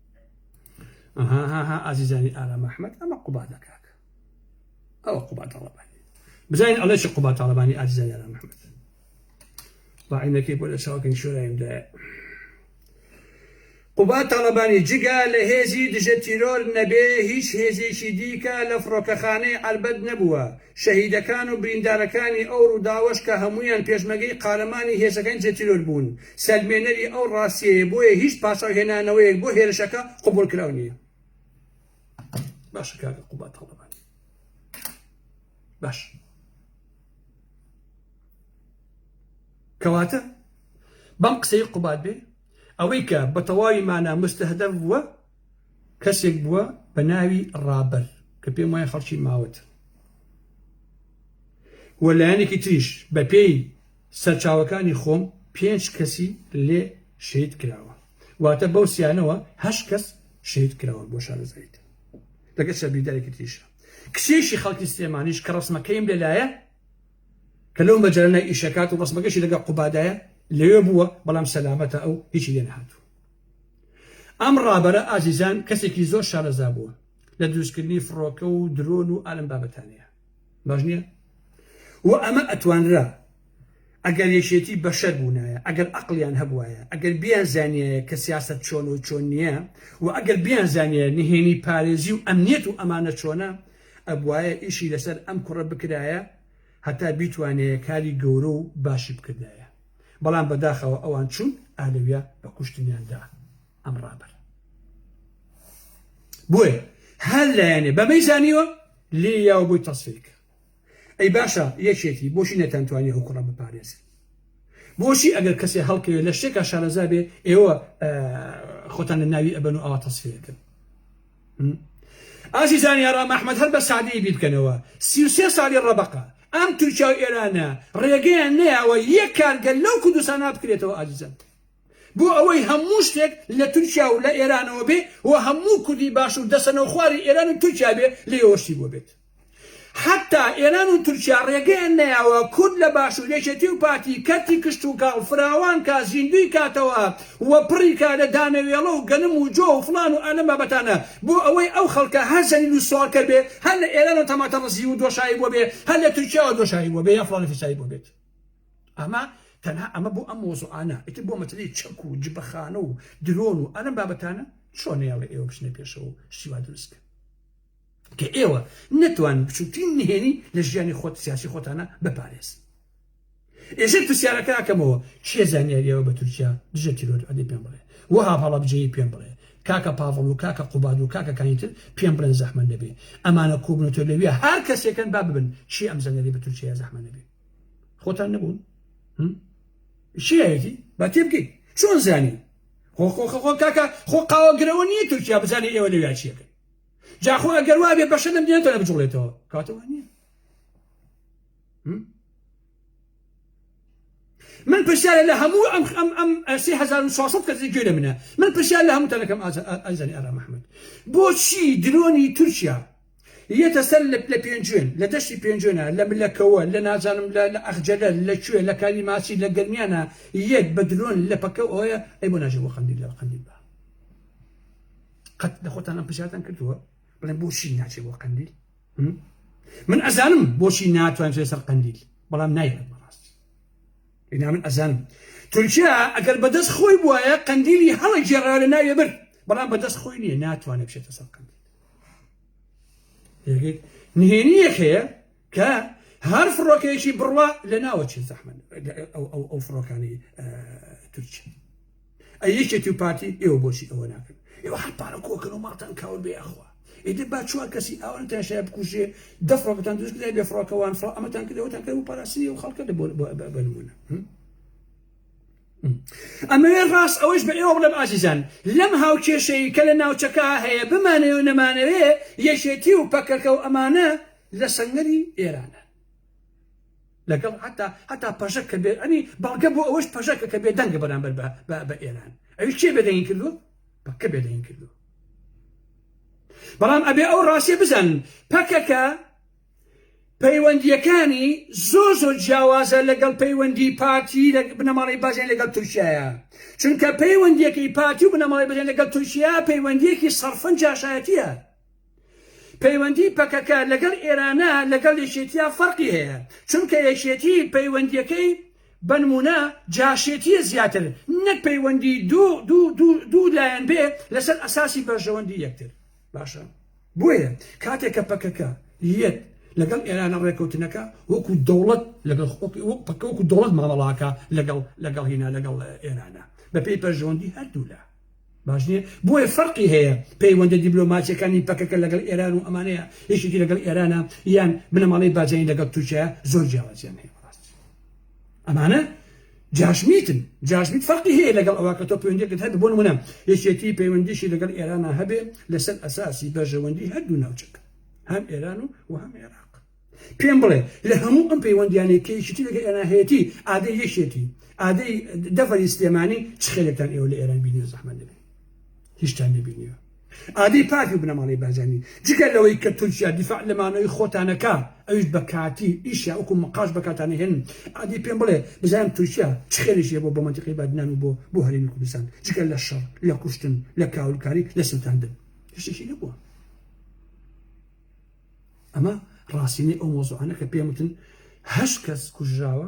ئەها ها ها ئازیزانی ئارام ئەحمەد ئەمە قوبادە کاکە ئەوە قوبا تاڵەبانی بزانین ئەڵێ چ قوبا تاڵەبانی ئازیزانی ئارام ئەحمەد ڕاعینەکەی بۆ لە چاوکەن شوێندا قوبا تاڵەبانی جگە لە هێزی دژە تیرۆر نەبێ هیچ هێزێکی دیکە لە فڕۆکەخانەی ئەربەت نەبووە شەهیدەکان و بریندارەکانی ئەو ڕووداوەش کە هەمویان پێشمەگەی قارەمانی هێزەکانی دژە تیرۆر بوون سەلمێنەری ئەو ڕاستیەیە بۆیە هیچ پاساو هێنانەوەیەک بۆ هێرشەکە قبولکراو نییە باشە کاکە قوبات هەڵەبان باش کەواتە بەم قسەی قوبات بێ ئەوەی کە بە تەواوی مانا مستهدەف بووە کەسێک بووە بە ناوی ڕابەر کە پێم وای خەڵکی ماوەت وە لایەنێکی تریش بە پێی سەرچاوەکانی خۆم پێنج کەسی لێ شەید کراوە واتە بەو سیانەوە هەشت کەس شەید کراوە بۆ شارەزایت لەگە شەبیدایکی تریشە کچێکی خەڵکی سلێمانیش کە ڕسمەکەیم لەلایە کە لەو مەجارنای ئیشەکات و ڕسمەکەشی لەگە قوبادایە لەوێ بووە بەڵام سەلامەتە ئەو هیچی لێ نهاتوو ئەم ڕابەرە ئازیزان کەسێکی زۆر شارەزا بووە لە دروستکردنی فڕۆکە و درۆن و ئالم بابەتانەیە باش نییە و ئەمە ئەتوانرا ئەگەر یەکێتی بەشەر بوونایە ئەگەر ئەقلیان هەبواە ئەگەر بیان زانایە کە سیاست چۆن و چۆن نییە و ئەگەر بیان زانایە نهێنی پارێزی و ئەمنیەت و ئەمانە چۆنە ئەبواە ئیشی لەسەر ئەم کوڕە بکرایە هەتا بیتوانەیە کاری گەورە و باشی بکردایە بەڵام بەداخەوە ئەوان چوون ئالەویا بە کوشتنیاندا. ئەم ڕاپەر بۆیە هەر لایەنێ بەمەی زانیوە لێ یاوە بۆی تەسفیکە ئەی باشە یەکێتی بۆچی نەتانتوانی ئەو کوڕە بپارێزن بۆچی ئەگەر کەسێ هەڵکەوێت لە شتێکا شارەزا بێ ئێوە خۆتان لە ناوی ئەبەن و ئاوا تەسفیەکەن ئازی زانیارا مححمد هەر بە سادەی بیر بکەنەوە سیوسێ ساڵی ڕەبقە ئەم تورکیا و ئێرانە ڕێگەیان نەیەوە یەک کارگەل لەو کوردستانە بکرێتەوە ئازیزم بۆ ئەوەی هەموو شتێک لە تورکیا و لە ئێرانەوە بێ و هەموو کوردی باشوور دەستە نەوخواری ئێران و تورکیا بێ لێیەوە شتی بۆ بێت حەتا ئێران و تورکیا ڕێگەیان نەیاوە کورد لە باشوور یەکێتی و پارتی کەرتی کشتوکاڵ فراوان کا زیندووی کاتەوە و پڕی کا لە دانەوێڵە و گەنم و جۆ و فڵان و ئەلەم بابەتانە بۆ ئەوەی ئەو خەڵکە هەر زەلیل و سواڵکەر بێ هەر لە ئێرانەوە تەماتە ڕزیو و دۆشاوی بۆ بێ هەر لە تورکیاوە دۆشاوی بۆ بێ یان فڵانە فیساوی بۆ بێت ئەمە تەنها ئەمە بۆ ئەم مۆزوعانە ئیتر بۆ مەسەلەی چەک و جبەخانە و درۆن و ئەلەم بابەتانە چۆن نەیاڵێ ئێوە بچنە پێشەوە و شتی وا دروست بکەن کە ئێوە نەتوانن بچووکترین نهێنی لە ژیانی خۆت سیاسی خۆتانە بپارێز ئێژێ پرسیارەکە ئەکەمەوە چێ زانیاریەوە بە تورکیا دژە تیرۆر ئەدی پێم بڵێ وەها هەڵەبجەیی پێم بڵێ کاکە پاڤڵ و کاکە قوباد و کاکەکانی تر پێم بڵێن زەحمە نەبێ ئەمانە کۆبنەوە لەویە هەر کەسێکن با ببن چی ئەم زانیاری بە تورکیا زەحمە نەبێ خۆتان نەبوون شیەتی بە تێبگەی چۆن زانی خۆ خۆ خۆ کاکە خۆ قاوەگرەوە نییە تورکیا بزانێت ئێوە لە ویاچیەکە جاخۆ ئەگەر وابێ بەشە لەم دێنێتە لە بجوڵێتەوە کاتەوە نییە من پرسیارە لە هەموو ئەم ئەم ئەم سی هزار و ساسە کەسی گوێ لە منە من پرسیار لە هەموو تەلەکەم ئازانی ئارا محمد بۆچی درۆنی تورکیا یەتە سەر لە لە پێنجوێن لە دەشتی پێنجوێنە لە ملەکەوە لە نازانم لە لە ئەخجەلە لە کوێ لە کالی ماچی لە گەرمیانە یەت بە درۆن لە پەکە و ئەوەیە ئەی بۆ ناژی بۆ قەندیل لە قەندیل بە قەت لە خۆتان ئەم پرسیارتان کردووە بڵێن بۆچی ناچێ بۆ قەندیل من ئەزانم بۆچی ناتوان چێ سەر قەندیل بەڵام نایەت بەڕاستی ئینا من ئەزانم تورکیا ئەگەر بەدەست خۆی بواە قەندیلی هەڵە گێڕا لە ناوێ بر بەڵام بەدەست خۆی نییە ناتوانێت بچێتە سەر قەندیل نهێنی یەک هەیە کە هەر فڕۆکەیەکی بڕوا لە ناوەچێ زەحمن ئەو فڕۆکانی تورکیا ئە یەکێتی و پارتی ئێوە بۆچی ئەوە ناکەن ئێوە هەر پارە کۆکەن و ماڵتان کاول بێ ئەخوا ئیدی با چوار کەسی ئەوان تاشای بکوژێ دە فڕۆکەتان دروست کرد بێ فڕۆکەوان فڕۆ ئەمەتان کردەوەتان کرد و پاراسی و خەڵکە بۆ بنمونە ئەمەوێت ڕاست ئەوەش بە ئێوە بڵێم ئازیزان لەم هاوکێشەی کە لە ناوچەکە هەیە بمانەوێ و نەمانەوێ یەکێتی و پەکەکە و ئەمانە لە سنگری ئێرانە لەگەڵ حتا حتا پەژەک کە بێت ئەنی بەڵگە بۆ ئەوەش پەژەکە کە بێدەنگە بەرامبەر بە ئێران ئەوی کێ بێدەنگی کردو بەکە بێدەنگ کردو بەڵام ئەبێ ئەو ڕاستیە بزانن پەکەکە پەیوەندییەکانی زۆر زۆر جیاوازە لەگەڵ پەیوەندی پارتی لە بنەماڵی بەژێن لەگەڵ تورکیایە چونکە پەیوەندیەکەی پارتی و بنەماڵی بەژێن لەگەڵ تورکیا پەیوەندیەکی سەرفەن جاشایەتیە پەیوەندی پەکەکە لەگەڵ ئێرانە لەگەڵ یەکێتیا فەرقی هەیە چونکە یەکێتی پەیوەندیەکەی بەنمونە جاشێتیە زیاتر نەک پەیوەندی دوو دوو دوو دوو لایەن بێ لەسەر ئەساسی بەرژەوەندی یەکتر باشە بۆیە کاتێک کە پەکەکە یەت لەگەڵ ئێرانە ڕێکەوتنەکە وەکو دەوڵەت لەگەڵ پکەوەکو دەوڵەت مامەڵاکە لەگەڵ لەگەڵ هینا لەگەڵ ئێرانە بەپێی پەرژەوەندی هەردوو لە باش نیە بۆیە فەرقی هەیە پەیوەندە دیبلۆماچەکانی پەکەکە لەگەڵ ئێران و ئەمانەیە یەکێکی لەگەڵ ئێرانە یان بنەماڵەی باجانی لەگەڵ تورکیا زۆر جیاوازیان هەیە ئەمانە جاشمیتن جاشمیت فەرقی هەیە لەگەڵ ئەوە کە تۆ پەیوەندیەکەت هەبێ بۆ نمونە یەکێتی پەیوەندیشی لەگەڵ ئێرانە هەبێ لەسەر ئەساسی بەرژەوەندی هەردوو ناوچەکە هەم ئێران و و هەم عێراق پێم بڵێ لە هەموو ئەم پەیوەندیانەی کە یەکێتی لەگەڵ ئێران هەیەتی ئادەی یەکێتی ئادەی دەڤەری سلێمانی چ خێلێکتان ئێوە لە ئێران بینی زەحمەت نەبێ هیچتان نەبینیوە ئادەی پارتی و بنەماڵەی بارزانی جگە لەوەی کە تورکیا دیفاع لە مانەوەی خۆتانەکە ئەویش بە کاتی ئیشیا وەکو مقاش بەکاتانە هێن ئادەی پێم بڵێ بزانم تورکیا چ خێریش هەیە بۆ بۆ منتیقی بادنان و بۆ بۆ هەرێمی کوردستان جگە لە شەڕ لە کوشتن لە کاولکاری لە سووتاندن هیچێکی نەبووە ئەمە ڕاستینەی ئەو مۆزوعانە کە پێم وتن هەشت کەس کوژراوە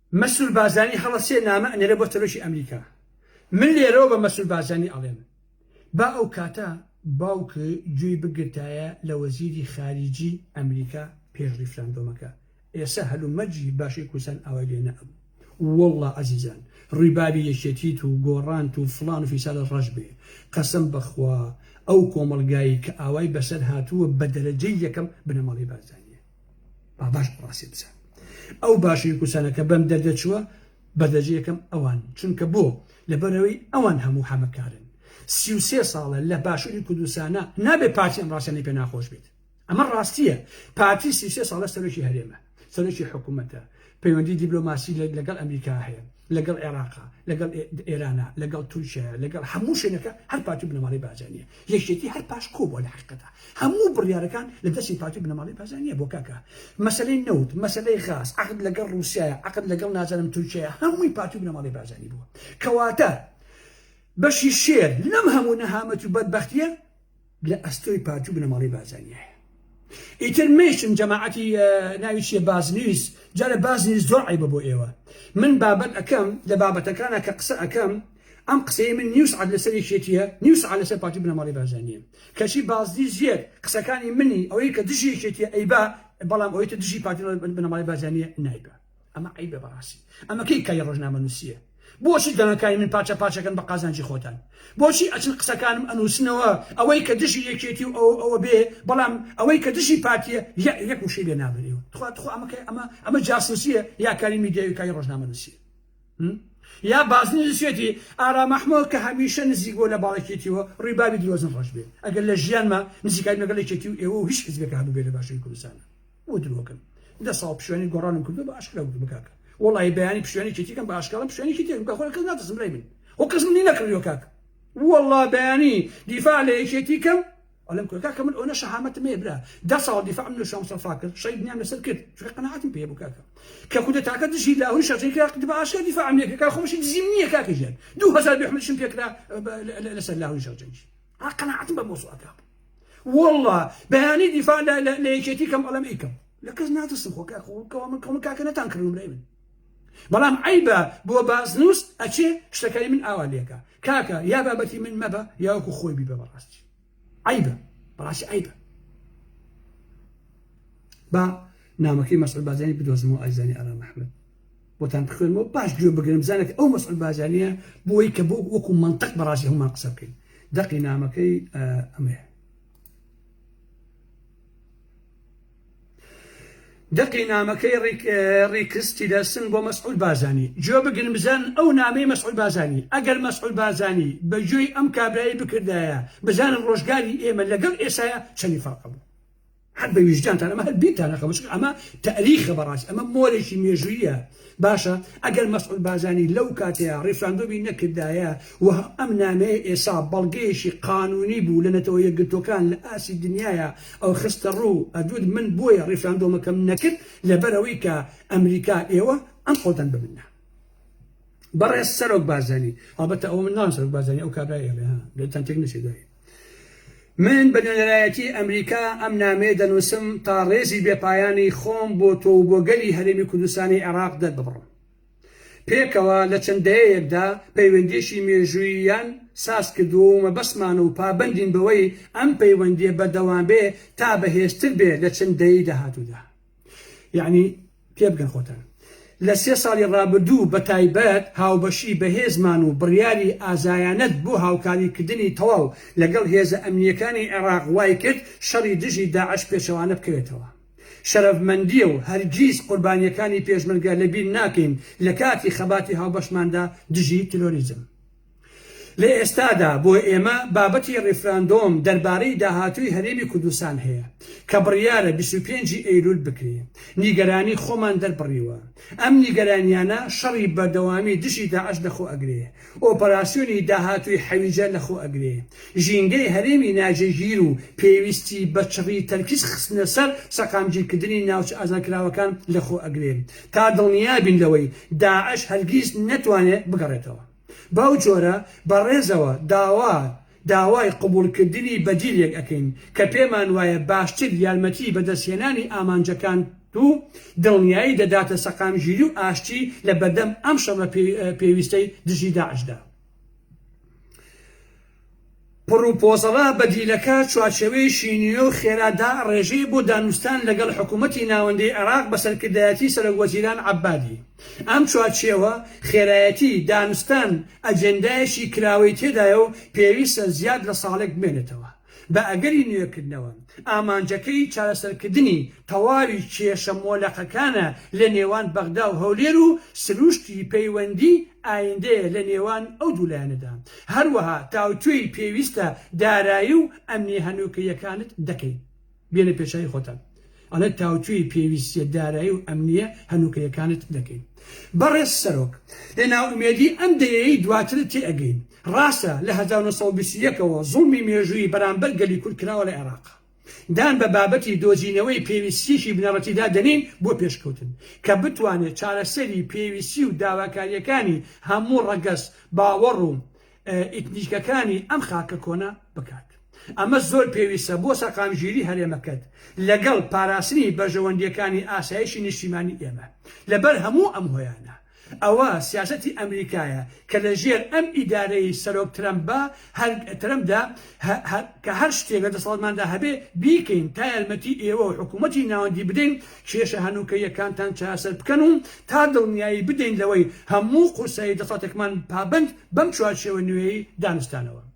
مەسرور بارزانی هەڵە سێ نامە ئەنێرێ بۆ سەرۆکی ئەمریکا من لێرەوە بە مەسرور بارزانی ئەڵێم با ئەو کاتە باوک گوێی بگرتایە لە وەزیری خاریجی ئەمریکا پێش ریفراندۆمەکە ئێسە هەلو مەرجی باشوی کوردستان ئاوای لێ نەئەبوو وەڵا ئەزیزان ڕویبابی یەکێتیت و گۆڕانت و فڵان و فیسالت ڕەش بێ قەسەم بەخوا ئەو کۆمەڵگای کە ئاوای بەسەر هاتووە بە دەرەجەی یەکەم بنەماڵەی بارزانیە. با باش ڕاسی بزان ئەو باشوی کوردستانە کە بەم دەردە چووە بەدەجە یەکەم ئەوان چونکە بۆ لەبەرەوەی ئەوان هەموو حەمەکارن سی و سێ ساڵە لە باشوری کوردستانە نابێ پارتی ئەم ڕاستەنی پێ ناخۆش بێت ئەمە ڕاستیە پارتی سی سێ ساڵە سەرۆکی هەرێمە سەرۆکی حکوومەتە پەیوەندی دیبلۆماسی لەگەڵ ئەمریکا هەیە، لەگەڵ عێراقە، لەگەڵ ئێرانە، لەگەڵ تورکیایە، لەگەڵ هەموو شوێنەکە هەر پارتی و بنەماڵەی بارزانییە. یەکێتی هەر پاشکۆ بووە لە حەقیقەتا. هەموو بڕیارەکان لە دەستی پارتی و بنەماڵەی بارزانییە بۆ کاکە. مەسەلەی نەوت، مەسەلەی غاز، عەقد لەگەڵ ڕووسیایە، عەقد لەگەڵ نازانم تورکیایە، هەمووی پارتی و بنەماڵەی بارزانی بووە. کەواتە بەشی شێر لەم هەموو نەهامەتی و بەدبەختییە، لە ئەستۆی پارتی و بنەماڵەی بارزانیایە ئیتر مەیشن جەماعەتی ناوی چیە بازنیویس جارە بازنیویس زۆر عیبە بۆ ئێوە من بابەت ئەەکەم لە بابەتەکانە کە قسە ئەەکەم ئەم قسەی من نیوس عاد لەسەر یەکێتیە نیوس عاد لەسەر پارتی بنەماڵی بازانیە کەچی بازدی زیێت قسەکانی منی ئەوەی کە دژی یەکێتیە ئەیبا بەڵام ئەوەی تە دژی پارتی بنەماڵی بازانیە نایبە ئەمە عەیبە بەڕاستی ئەمە کەی کای ڕۆژنامەنووسییە بۆچی دەنگەکانی من پارچە پارچەکەن بە قازانجی خۆتان بۆچی ئەچن قسەکانم ئەنووسنەوە ئەوەی کە دژی یەکێتی و ئەو ئەوە بێ بەڵام ئەوەی کە دژی پارتیە یە یەک وشەی لێ نابن ئێوە تخوا تخوا ئەمە کە ئەمە ئەمە جاسووسییە یا کاری میدیاوی کای ڕۆژنامەنووسییە یا بازنی نووسێتی ئارام ئەحمەد کە هەمیشە نزیک بۆ لە باڵێکێتیەوە ڕیبابی درۆزن ڕەش بێ ئەگەر لە ژیانمە نزیکای لەگەڵ یەکێتی و ئێوە و هیچ حزبێک هەبوو بێ لە باشووری کوردستانە بۆ درۆکەم دە ساڵ پشوێنی گۆڕانم کردو بە ئاشکرا وتم کاکە وڵی بەیانی پشوێنی کێتیکەم بە ئاشکاڵم پشوێنی کێتێکم کە خۆی کەس ناترسم لای من و کەس منی نەکردوە کاک وڵا بەیانی دیفاع لە یەکێتی کەم ئەلم کۆکا کە من ئەوە شەهامەتم هەیە برا دە ساڵ دیفاع من لە شام سەفا کرد شەی دنیام لەسەر کرد چونکە قەناعەتم پێ بوو کاکە کە کودە تاکە دژی لاهوری شەرتەی کرا قد بە ئاشکرا دیفاعم لێ کرد کاک خۆشی دزیم نییە کاکە ژیان 2000 بێحملشم پێ کرا لەسەر لاهوری شەرجەنگی ئا قەناعەتم بە مۆزوعەکە بوو واللە بەیانی دیفاع لە لە لە یەکێتی کەم ئەڵەم ئیکەم لە کەس ناترسم خۆ کاک خۆ کەوا من کەمە کاکە نەتان کردم لای من بەڵام عیبە بۆ بازنووس ئەچێ شتەکانی من ئاوا لێکە کاکە یا بابەتی من مەبە یاوەکو خۆی بیبە بەڕاستی عیبە بەڕاستی عیبە با نامەکەی مەسعود بازانی بدۆزمەوە ئایزانی ئارام محمد بۆتان بخوێنمەوە باش گوێ بگرن بزانە کە ئەو مەسعود بارزانیە بۆی کە بۆ وەکو منطق بەڕاستی هەمومان قسە بکەین دەقی نامەکەی ئەمەیە دەقی نامەکەی ڕیکس تیلەرسن بۆ مەسعود بازانی جۆ بگن بزان ئەو نامەی مەسعود بازانی ئەگەر مەسعود بازانی بە جۆی ئەم کابرایی بکردایە بزانن ڕۆژگاری ئێمە لەگەڵ ئێساە چەنی فەرقە بوو هەر بە ویژدانتان ئەمە هەر بیرتان نەخەمە چونکە ئەمە تەئریخە بەڕاستی ئەمە مۆرێکی مێژووییە باشە ئەگەر مەسعود بازانی لەو کاتەیە ڕیفراندۆمی نەکردایە و ئەم نامەیە ئێسا بەڵگەیەکی قانونی بوو لە نەتەوە یەکگرتووەکان لە ئاستی دنیایا ئەو خستە ڕوو ئەدوت من بۆیە ڕیفراندۆمەکەم نەکرد لەبەرەوەی کە ئەمریکا ئێوە ئەم قۆدەن بە من نا بەڕێز سەرۆک بازانی هەڵبەتە ئەوە من ناوم سەرۆک بازانی ئەو کابرای ئێمە ها لێتان تێک نەچێت دوایی من بە نوێنەرایەتی ئەمریکا ئەم نامەیە دەنووسم تا ڕێزی بێ پایانی خۆم بۆ تۆ و بۆ گەلی هەرێمی کوردستانی عێراق دەرببڕم. پێکەوە لە چەند دەیەیەکدا پەیوەندییەکی مێژووییان ساز کردووە و مەبەستمانە و پابەندین بەوەی ئەم پەیوەندییە بەردەوام بێ تا بەهێزتر بێ لە چەند دەیەی داهاتوودا. یەعنی پێبگەن خۆتان لە سێ ساڵی ڕابردوو بە تایبەت هاوبەشی بەهێزمان و بڕیاری ئازایانەت بۆ هاوکاری کردنی تەواو لەگەڵ هێزە ئەمنییەکانی عێڕاق وای کرد شەڕی دژی داعش پێچەوانە بکەوێتەوە شەرەفمەندییە و هەرگیز قوربانییەکانی پێشمەرگە لە بیر ناکەین لە کاتی خەباتی هاوبەشماندا دژی ترۆریزم لە ئێستادا بۆ ئێمە بابەتی ڕیفراندۆم دەربارەی داهاتووی هەرێمی کوردستان هەیە کە بڕیارە بیست و پێنج ی ئەیلول بکرێ، نیگەرانی خۆمان دەربڕیوە، ئەم نیگەرانیانە شەڕی بەردەوامی دژی داعش لەخۆ ئەگرێ، ئۆپەراسیۆنی داهاتووی حەویجە لەخۆ ئەگرێ، ژینگەی هەرێمی ناجێگیر و پێویستی بە چڕی تەرکیز خستنە سەر سەقامگیرکردنی ناوچە ئازادکراوەکان لەخۆ ئەگرێ تا دڵنیابین لەوەی داعش هەرگیز نەتوانێ بگەڕێتەوە. بەو جۆرە بە ڕێزەوە داوا داوای قبوڵ کردنی بەدیلێک ئەکەین کە پێمان وایە باشتر یارمەتی بەدەست هێنانی ئامانجەکان و دڵنیایی دەداتە سەقامگیری و ئاشتی لە بەردەم ئەم شەڕە پێویستەی دژی داعشدا. پڕوپۆزەڵە بەدیلەکە چوارچێوەیەکی نوێ و خێرا دائەڕێژێ بۆ دانوستان لەگەڵ حکوومەتی ناوەندیی عێراق بە سەرکردایەتیی سەرۆکوەزیران عەبادی. ئەم چوارچێوە خێرایەتی دانوستان ئەجێندایەکی کراوەی تێدایە و پێویستە زیاد لە ساڵێک بمێنێتەوە بە ئەگەری نوێکردنەوە. ئامانجەکەی چارەسەرکردنی تەواوی کێشە مۆلەقەکانە لە نێوان بەغدا و هەولێر و سرووشتی پەیوەندیی ئایندەیە لە نێوان ئەو دوو لایەنەدا، هەروەها تاوتوێی پێویستە دارایی و ئەمنیە هەنوکەییەکانت دەکەی بێنە پێشایی خۆتان ئەڵێ تاوتوێی پێویستیە دارایی و ئەمنیە هەنوکەیەکانت دەکەی بەڕێز سەرۆک لە نائومێدی ئەم دەیەی دواترت تێ ئەگەین ڕاستە لە هەزار و نۆ سەد و بیست و یەک ەوە زوڵمی مێژووی بەرامبەر گەلی کورد کراوە لە عێراق دان بە بابەتی دۆزینەوەی پێویستییەکی بنەڕەتیدا دەنێین بۆ پێشکەوتن، کە بتوانێت چارەسەری پێویستی و داواکارییەکانی هەموو ڕەگەز، باوەڕ و ئیتنیکەکانی ئەم خاکە کۆنە بکات. ئەمە زۆر پێویستە بۆ سەقامگیری هەرێمەکەت، لەگەڵ پاراستنی بەرژەوەندییەکانی ئاسایشی نیشتیمانی ئێمە. لەبەر هەموو ئەم هۆیانە، ئەوە سیاسەتی ئەمریکایە کە لە ژێر ئەم ئیدارەی سەرۆک ترەمپە هەر ترەمپدا هە کە هەر شتێک لە دەسەڵاتماندا هەبێ بیکەین تا یارمەتی ئێوە و حکوومەتی ناوەندی بدەین کێشە هەنووکەییەکانتان چارەسەر بکەن و تا دڵنیایی بدەین لەوەی هەموو قورسایی دەسەڵاتێکمان پابەند بەم چوارچێوە نوێیەی دانوستانەوە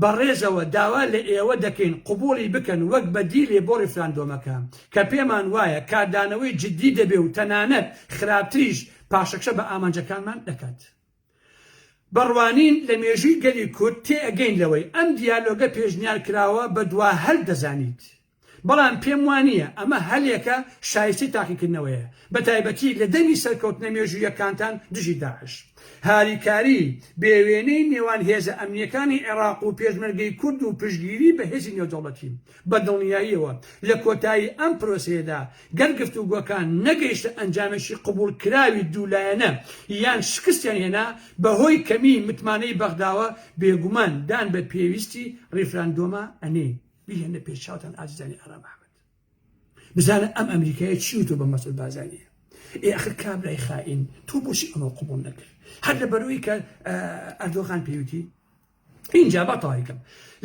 بە ڕێزەوە داوا لە ئێوە دەکەین قبوڵی بکەن وەک بەدیلێ بۆ ڕیفراندۆمەکە کە پێمان وایە کاردانەوەی جدی دەبێ و تەنانەت خراپتریش پاشەکشە بە ئامانجەکانمان دەکات. بە ڕوانین لە مێژووی گەلی کورد تێ ئەگەین لەوەی ئەم دیالۆگە پێشنیار کراوە بە دوا هەل دەزانیت. بەڵام پێم وا نییە ئەمە هەلێکە شایستەی تاقیکردنەوەیە، بەتایبەتی لە دەمی سەرکەوتنە مێژووییەکانتان دژی داعش. هاریکاریی بێوێنەی نێوان هێزە ئەمنییەکانی عێراق و پێشمەرگەی کورد و پشتگیری بە هێزی نێودەوڵەتی، بە دڵنیاییەوە لە کۆتایی ئەم پرۆسەیەدا گەر گفتوگۆکان نەگەیشتە ئەنجامێکی قبووڵکراوی دوو لایەنە یان شکستیان هێنا بەهۆی کەمیی متمانەی بەغداوە، بێگومان دان بە پێویستی ڕیفراندۆمە ئەنێین. بیهێنە پێش چاوتان ئازیزانی ئارام ئەحمەد بزانە ئەم ئەمریکایە چی وتو بە مەسعود بازانیە ئێ ئەخر کابرای خائین تۆ بۆچی ئەمە قوبڵ نەکرد هەر لە بەرەوەی کە ئەردۆغان پێوتی اینجا بە تاریکم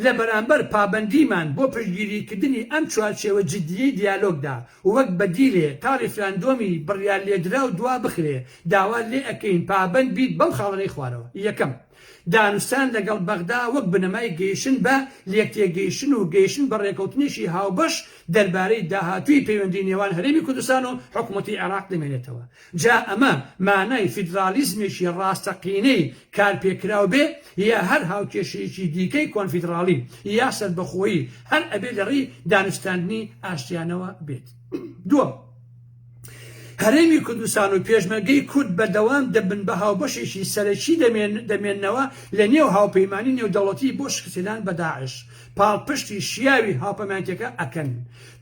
لە بەرامبەر پابندیمان بۆ پشگیریکردنی ئەم چوارچێوە جددیی دیالۆگدا وەک بەدیلێ تا ریفراندۆمی بڕیار لێدرا و دوا بخرێ داوا لێ ئەکەین پابند بیت بەم خاڵەنەی خوارەوە یەکەم دانوستان لەگەڵ بەغدا وەک بنەمای گەیشتن بە لێکتێگەیشتن و گەیشتن بە ڕێکەوتنێکی هاوبەش دەربارەی داهاتووی پەیوەندی نێوان هەرێمی کوردستان و حکومەتی عێراق دەمێنێتەوە جا ئەمە مانای فیدراڵیزمێکی ڕاستەقینەی کارپێکراو بێ یا هەر هاوکێشەیەکی دیکەی کۆنفیدراڵی یا سەربەخۆیی هەر ئەبێ لەڕێی دانوستاندنی ئاشتیانەوە بێت دووەم هەرێمی کوردستان و پێشمەرگەی کورد بەردەوام دەبن بە هاوبەشێکی سەرەکی دەمێننەوە لە نێو هاوپەیمانی نێودەوڵەتی بۆ شکستهێنان بە داعش پاڵپشتی شیاوی هاوپەمانێتیەکە ئەکەن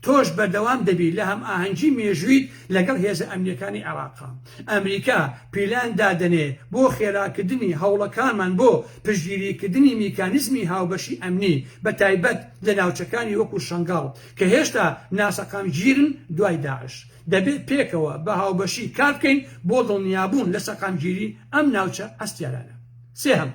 تۆش بەردەوام دەبی لە هەمئاهەنگی مێژوویت لەگەڵ هێزە ئەمنیەکانی عێراقا ئەمریکا پیلان دادەنێ بۆ خێراکردنی هەوڵەکانمان بۆ پشتگیریکردنی میکانیزمی هاوبەشی ئەمنی بە تایبەت لە ناوچەکانی وەکو شەنگاڵ کە هێشتا ناسەقامگیرن دوای داعش، دەبێت پێکەوە بە هاوبەشی کار بکەین بۆ دڵنیابوون لە سەقامگیری ئەم ناوچە هەستیارانە. سێهەم،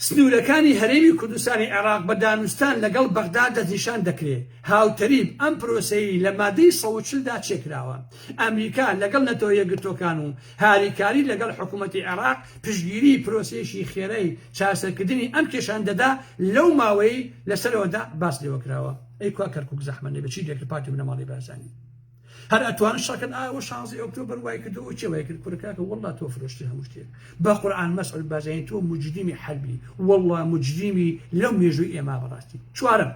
سنوورەکانی هەرێمی کوردستانی عێراق بە دانوستان لەگەڵ بەغدا دەستنیشان دەکرێت، هاوتەریب ئەم پرۆسەیەی لە مادەی سەد و چل دا چێکراوە، ئەمریکا لەگەڵ نەتەوە یەکگرتووەکان و هاریکاری لەگەڵ حکوومەتی عێراق پشتگیریی پرۆسەیەکی خێرای چارەسەرکردنی ئەم کێشانە دەدا لەو ماوەیەی لە سەرەوەدا باس لێوە کراوە. ئەی کوا کەرکووک زەحمەت نەبێ چی دەکرد پارتی بنەماڵەی بارزانی هەر ئەتوانن شەڕ کەن ئایا ئەوە شانزەی ئۆکتۆبەر وای کردەوە چێ وای کرد کورە کاکە وەڵڵا تۆ فرۆشتی هەموو شتێک بە قورعان مەسعود بارزانی تۆ مجریمی حەربی وەڵڵا مجریمی لەو مێژووی ئێمە بەڕاستی چوارەم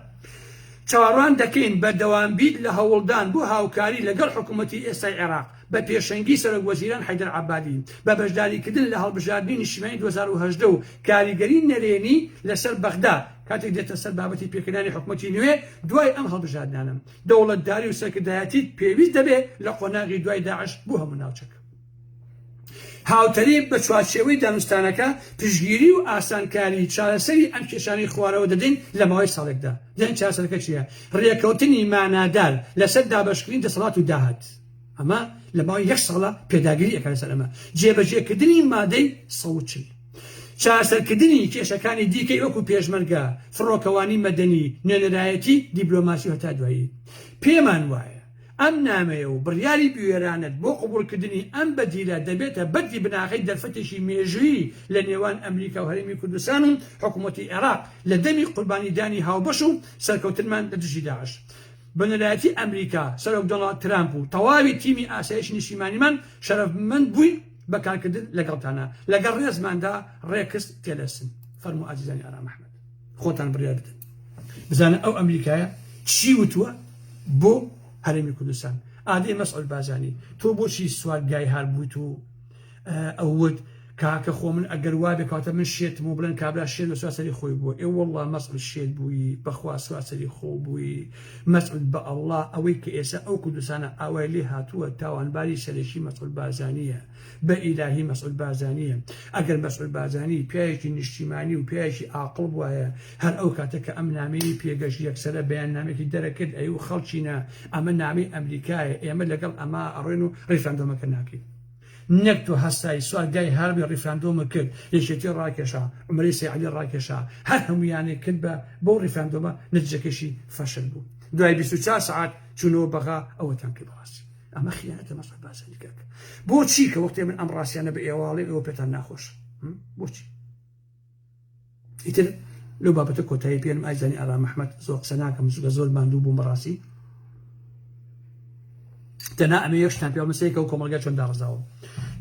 چاوەڕوان دەکەین بەردەوام بیت لە هەوڵدان بۆ هاوکاری لەگەڵ حکوومەتی ئێستای عێراق بە پێشەنگی سەرۆک وەزیران حەیدەر عەبادی بە بەشداریکردن لە هەڵبژاردنی نیشتیمانی دوو هەزار و هەژدە و کاریگەری نەرێنی لەسەر بەغدا کاتێک دێتە سەر بابەتی پێکهێنانی حکوومەتی نوێ دوای ئەم هەڵبژاردنانە. دەوڵەتداری و سەرکردایەتیت پێویست دەبێت لە قۆناغی دوای داعش بۆ هەموو ناوچەکە. هاوتەریب بە چوارچێوەی دانوستانەکە پشتگیری و ئاسانکاری چارەسەری ئەم کێشانەی خوارەوە دەدەین لە ماوەی ساڵێکدا. دەنگ چارەسەرەکە چییە؟ رێکەوتنی مانادار لەسەر دابەشکردنی دەسەڵات و داهات. ئەمە لە ماوەی یەک ساڵە پێداگری ئەکات لەسەر ئەمە. جێبەجێکردنی مادەی سەد و چل. چارەسەرکردنی کێشەکانی دیکەی وەکو پێشمەرگە، فڕۆکەوانی مەدەنی، نوێنەرایەتی دیبلۆماسی و هەتا دوایی. پێمان وایە. ئەم نامەیە و بڕیاری بوێرانەت بۆ قبوڵکردنی ئەم بەدیلە دەبێتە بەردی بناغەی دەرفەتێکی مێژوویی لە نێوان ئەمریکا و هەرێمی کوردستان و حکومەتی عێراق لە دەمی قوربانیدانی هاوبەش و سەرکەوتنمان لە دژی داعش بەنەرایەتی ئەمریکا، سەرۆک دۆناڵد ترامپ و تەواوی تیمی ئاسایشی نیشتیمانیمان شەرەفمەند بووین بە کارکردن لەگەڵتانا. لەگەڵ ڕێزماندا، ڕێکس تێلەرسن. فەرموو ئازیزانی ئارام ئەحمەد. خۆتان بڕیار بدەن بزانە ئەو ئەمریکایە چی وتووە بۆ هەرێمی کوردستان ئادێ مەسعود بازانی تۆ بۆچی سوار گای هار بوویت و ئەوت کاکە خۆ من ئەگەر وا بکاتە من شێتم و بڵێن کابرا شێت لە سواسەری خۆی بووە ئێ وەڵا مەسعود شێت بووی بەخوا سواسەری خۆ بووی مەسعود بە ئەڵڵا ئەوەی کە ئێستا ئەو کوردستانە ئاوای لێ هاتووە تاوانباری سەرەکی مەسعود بازانیە بە ئیلاهی مەسعود بارزانییە ئەگەر مەسعود بارزانی پیاوێکی نیشتیمانی و پیاوێکی ئاقڵ بوایە هەر ئەو کاتە کە ئەم نامەی پێگەش یەکسەرە بەیان نامێکی دەرەکرد ئەی و خەڵچینە ئەمە نامەی ئەمریکایە ئێمە لەگەڵ ئەما ئەڕێن و ڕیفراندۆمەکە ناکەین نەک تۆ هەستایی سوار گای هاربی ڕیفراندۆمە کرد یەکێتی ڕاکێشا عمرەی سەیعلی ڕاکێشا هەر هەمویانێک کرد بە بۆ ڕیفراندۆمە نەتیجەکەشی فەشل بوو دوای 24 سعات چوونەوە بەغا ئەوەتان پێ بڕاسی ئەمە خیانەتە مەسعود بارزانی کاک بۆچی کە وەختێ من ئەم ڕاستیانە بە ئێواڵێ ئەوە پێتان ناخۆش بۆچی ئیتر لەو بابەتە کۆتایی پێنم ئایزانی ئارا مححمد زۆر قسە ناکەم زگە زۆر ماندوو بووم بەڕاستی تەنا ئەمە یەشتان پێ مسەیەکە و کۆمەلگە چۆن داڕزاوە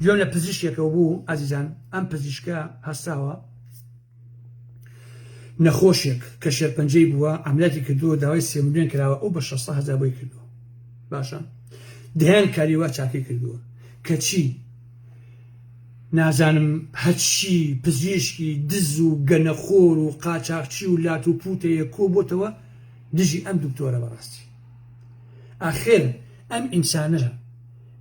گوێم لە پزیشکێکەوە بوو ئازیزان ئەم پزیشکە هەستاوە نەخۆشێک کە شێرپەنجەی بووە ئەملاتی کردووە داوای سێ ملیۆن کراوە ئەو بە 600 هەزار بۆی کردووە باشە دەیان کاری وا چاکی کردووە کەچی نازانم هەرچی پزیشکی دز و گەنەخۆر و قاچاخچی و لات و پوتەیە کۆ بۆتەوە دژی ئەم دکتۆرە بەڕاستی ئاخر ئەم ئینسانە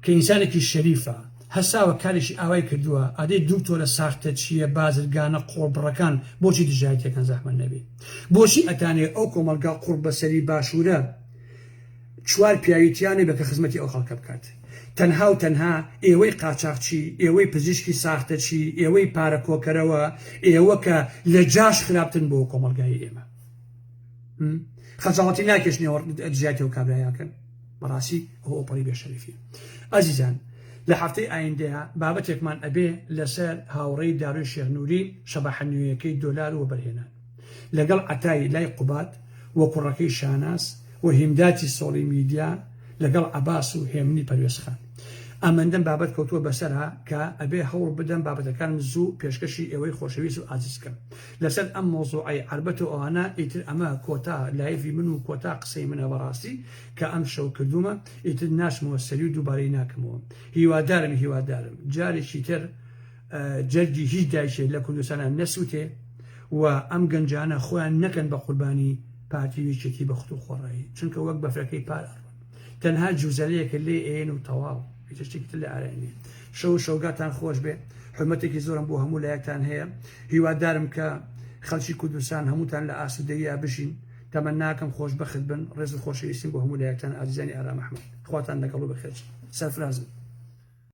کە ئینسانێکی شەریفە هەساوە کارێکی ئاوای کردووە ئەدەی دوکتۆرە ساختە چیە بازرگانە قۆڵبڕەکان بۆچی دژایەتیەکەن زەحمەت نەبێ بۆچی ئەتانێ ئەو کۆمەڵگا قوڕبەسەری باشوورە چوار پیاوی تیا نەبێ کە خزمەتی ئەو خەڵکە بکات تەنها و تەنها ئێوەی قاچاخچی ئێوەی پزیشکی ساختەچی ئێوەی پارە کۆکەرەوە ئێوە کە لە جاش خراپتن بۆ کۆمەلگای ئێمە خەجاڵەتی ناکێشنەوە دژایەتی و کابرایەکەن بەڕاستی ئەوە ئەوپەڕی بێ شەریفیە ئەزیزان لە هەفتەی ئایندەیە بابەتێکمان ئەبێ لەسەر هاوڕێی دارۆی شێخ نوری شەباحە نوێیەکەی دۆلار و وەبەرهێنان لەگەڵ عەتای لای قوباد و کوڕەکەی شاناز و هیمداتی سۆڵی میدیا لەگەڵ عەباس و هێمنی پەروێز خان ئەمەندەم بابەت کەوتووە بەسەرا کە ئەبێ هەوڵ بدەم بابەتەکانم زوو پێشکەشی ئێوەی خۆشەویست و ئازیز کەم لەسەر ئەم مەوزوعەی عەربەت و ئەوانە ئیتر ئەمە کۆتا لایڤی من و کۆتا قسەی منە بەڕاستی کە ئەم شەو کردوومە ئیتر ناچمەوە سەری و دووبارەی ناکەمەوە هیوادارم هیوادارم جارێکی تر جەرگی هیچ دایکێ لە کوردستانا نەسووتێ و ئەم گەنجانە خۆیان نەکەن بە قوربانی پارتی و یەکێتی بە خت و خۆڕایی چونکە وەک بەفرەکەی پار ئەڕوون. تەنها جوزەلەیەکە لێ ئەیەن و تەواو هیچ شتێکی تر لێ ئارای نیە شەو و شەوگاتان خۆش بێ حرمەتێکی زۆرم بۆ هەموو لایەکتان هەیە هیوادارم کە خەڵکی کوردستان هەمووتان لە ئاسوودەییا بژین تەمەناکەم خۆشبەخت بن ڕێز و خۆشەویستیم بۆ هەموو لایەکتان ئازیزانی ئارام ئەحمەد خواتان لەگەڵ و بەخێرتان سەرفرازن.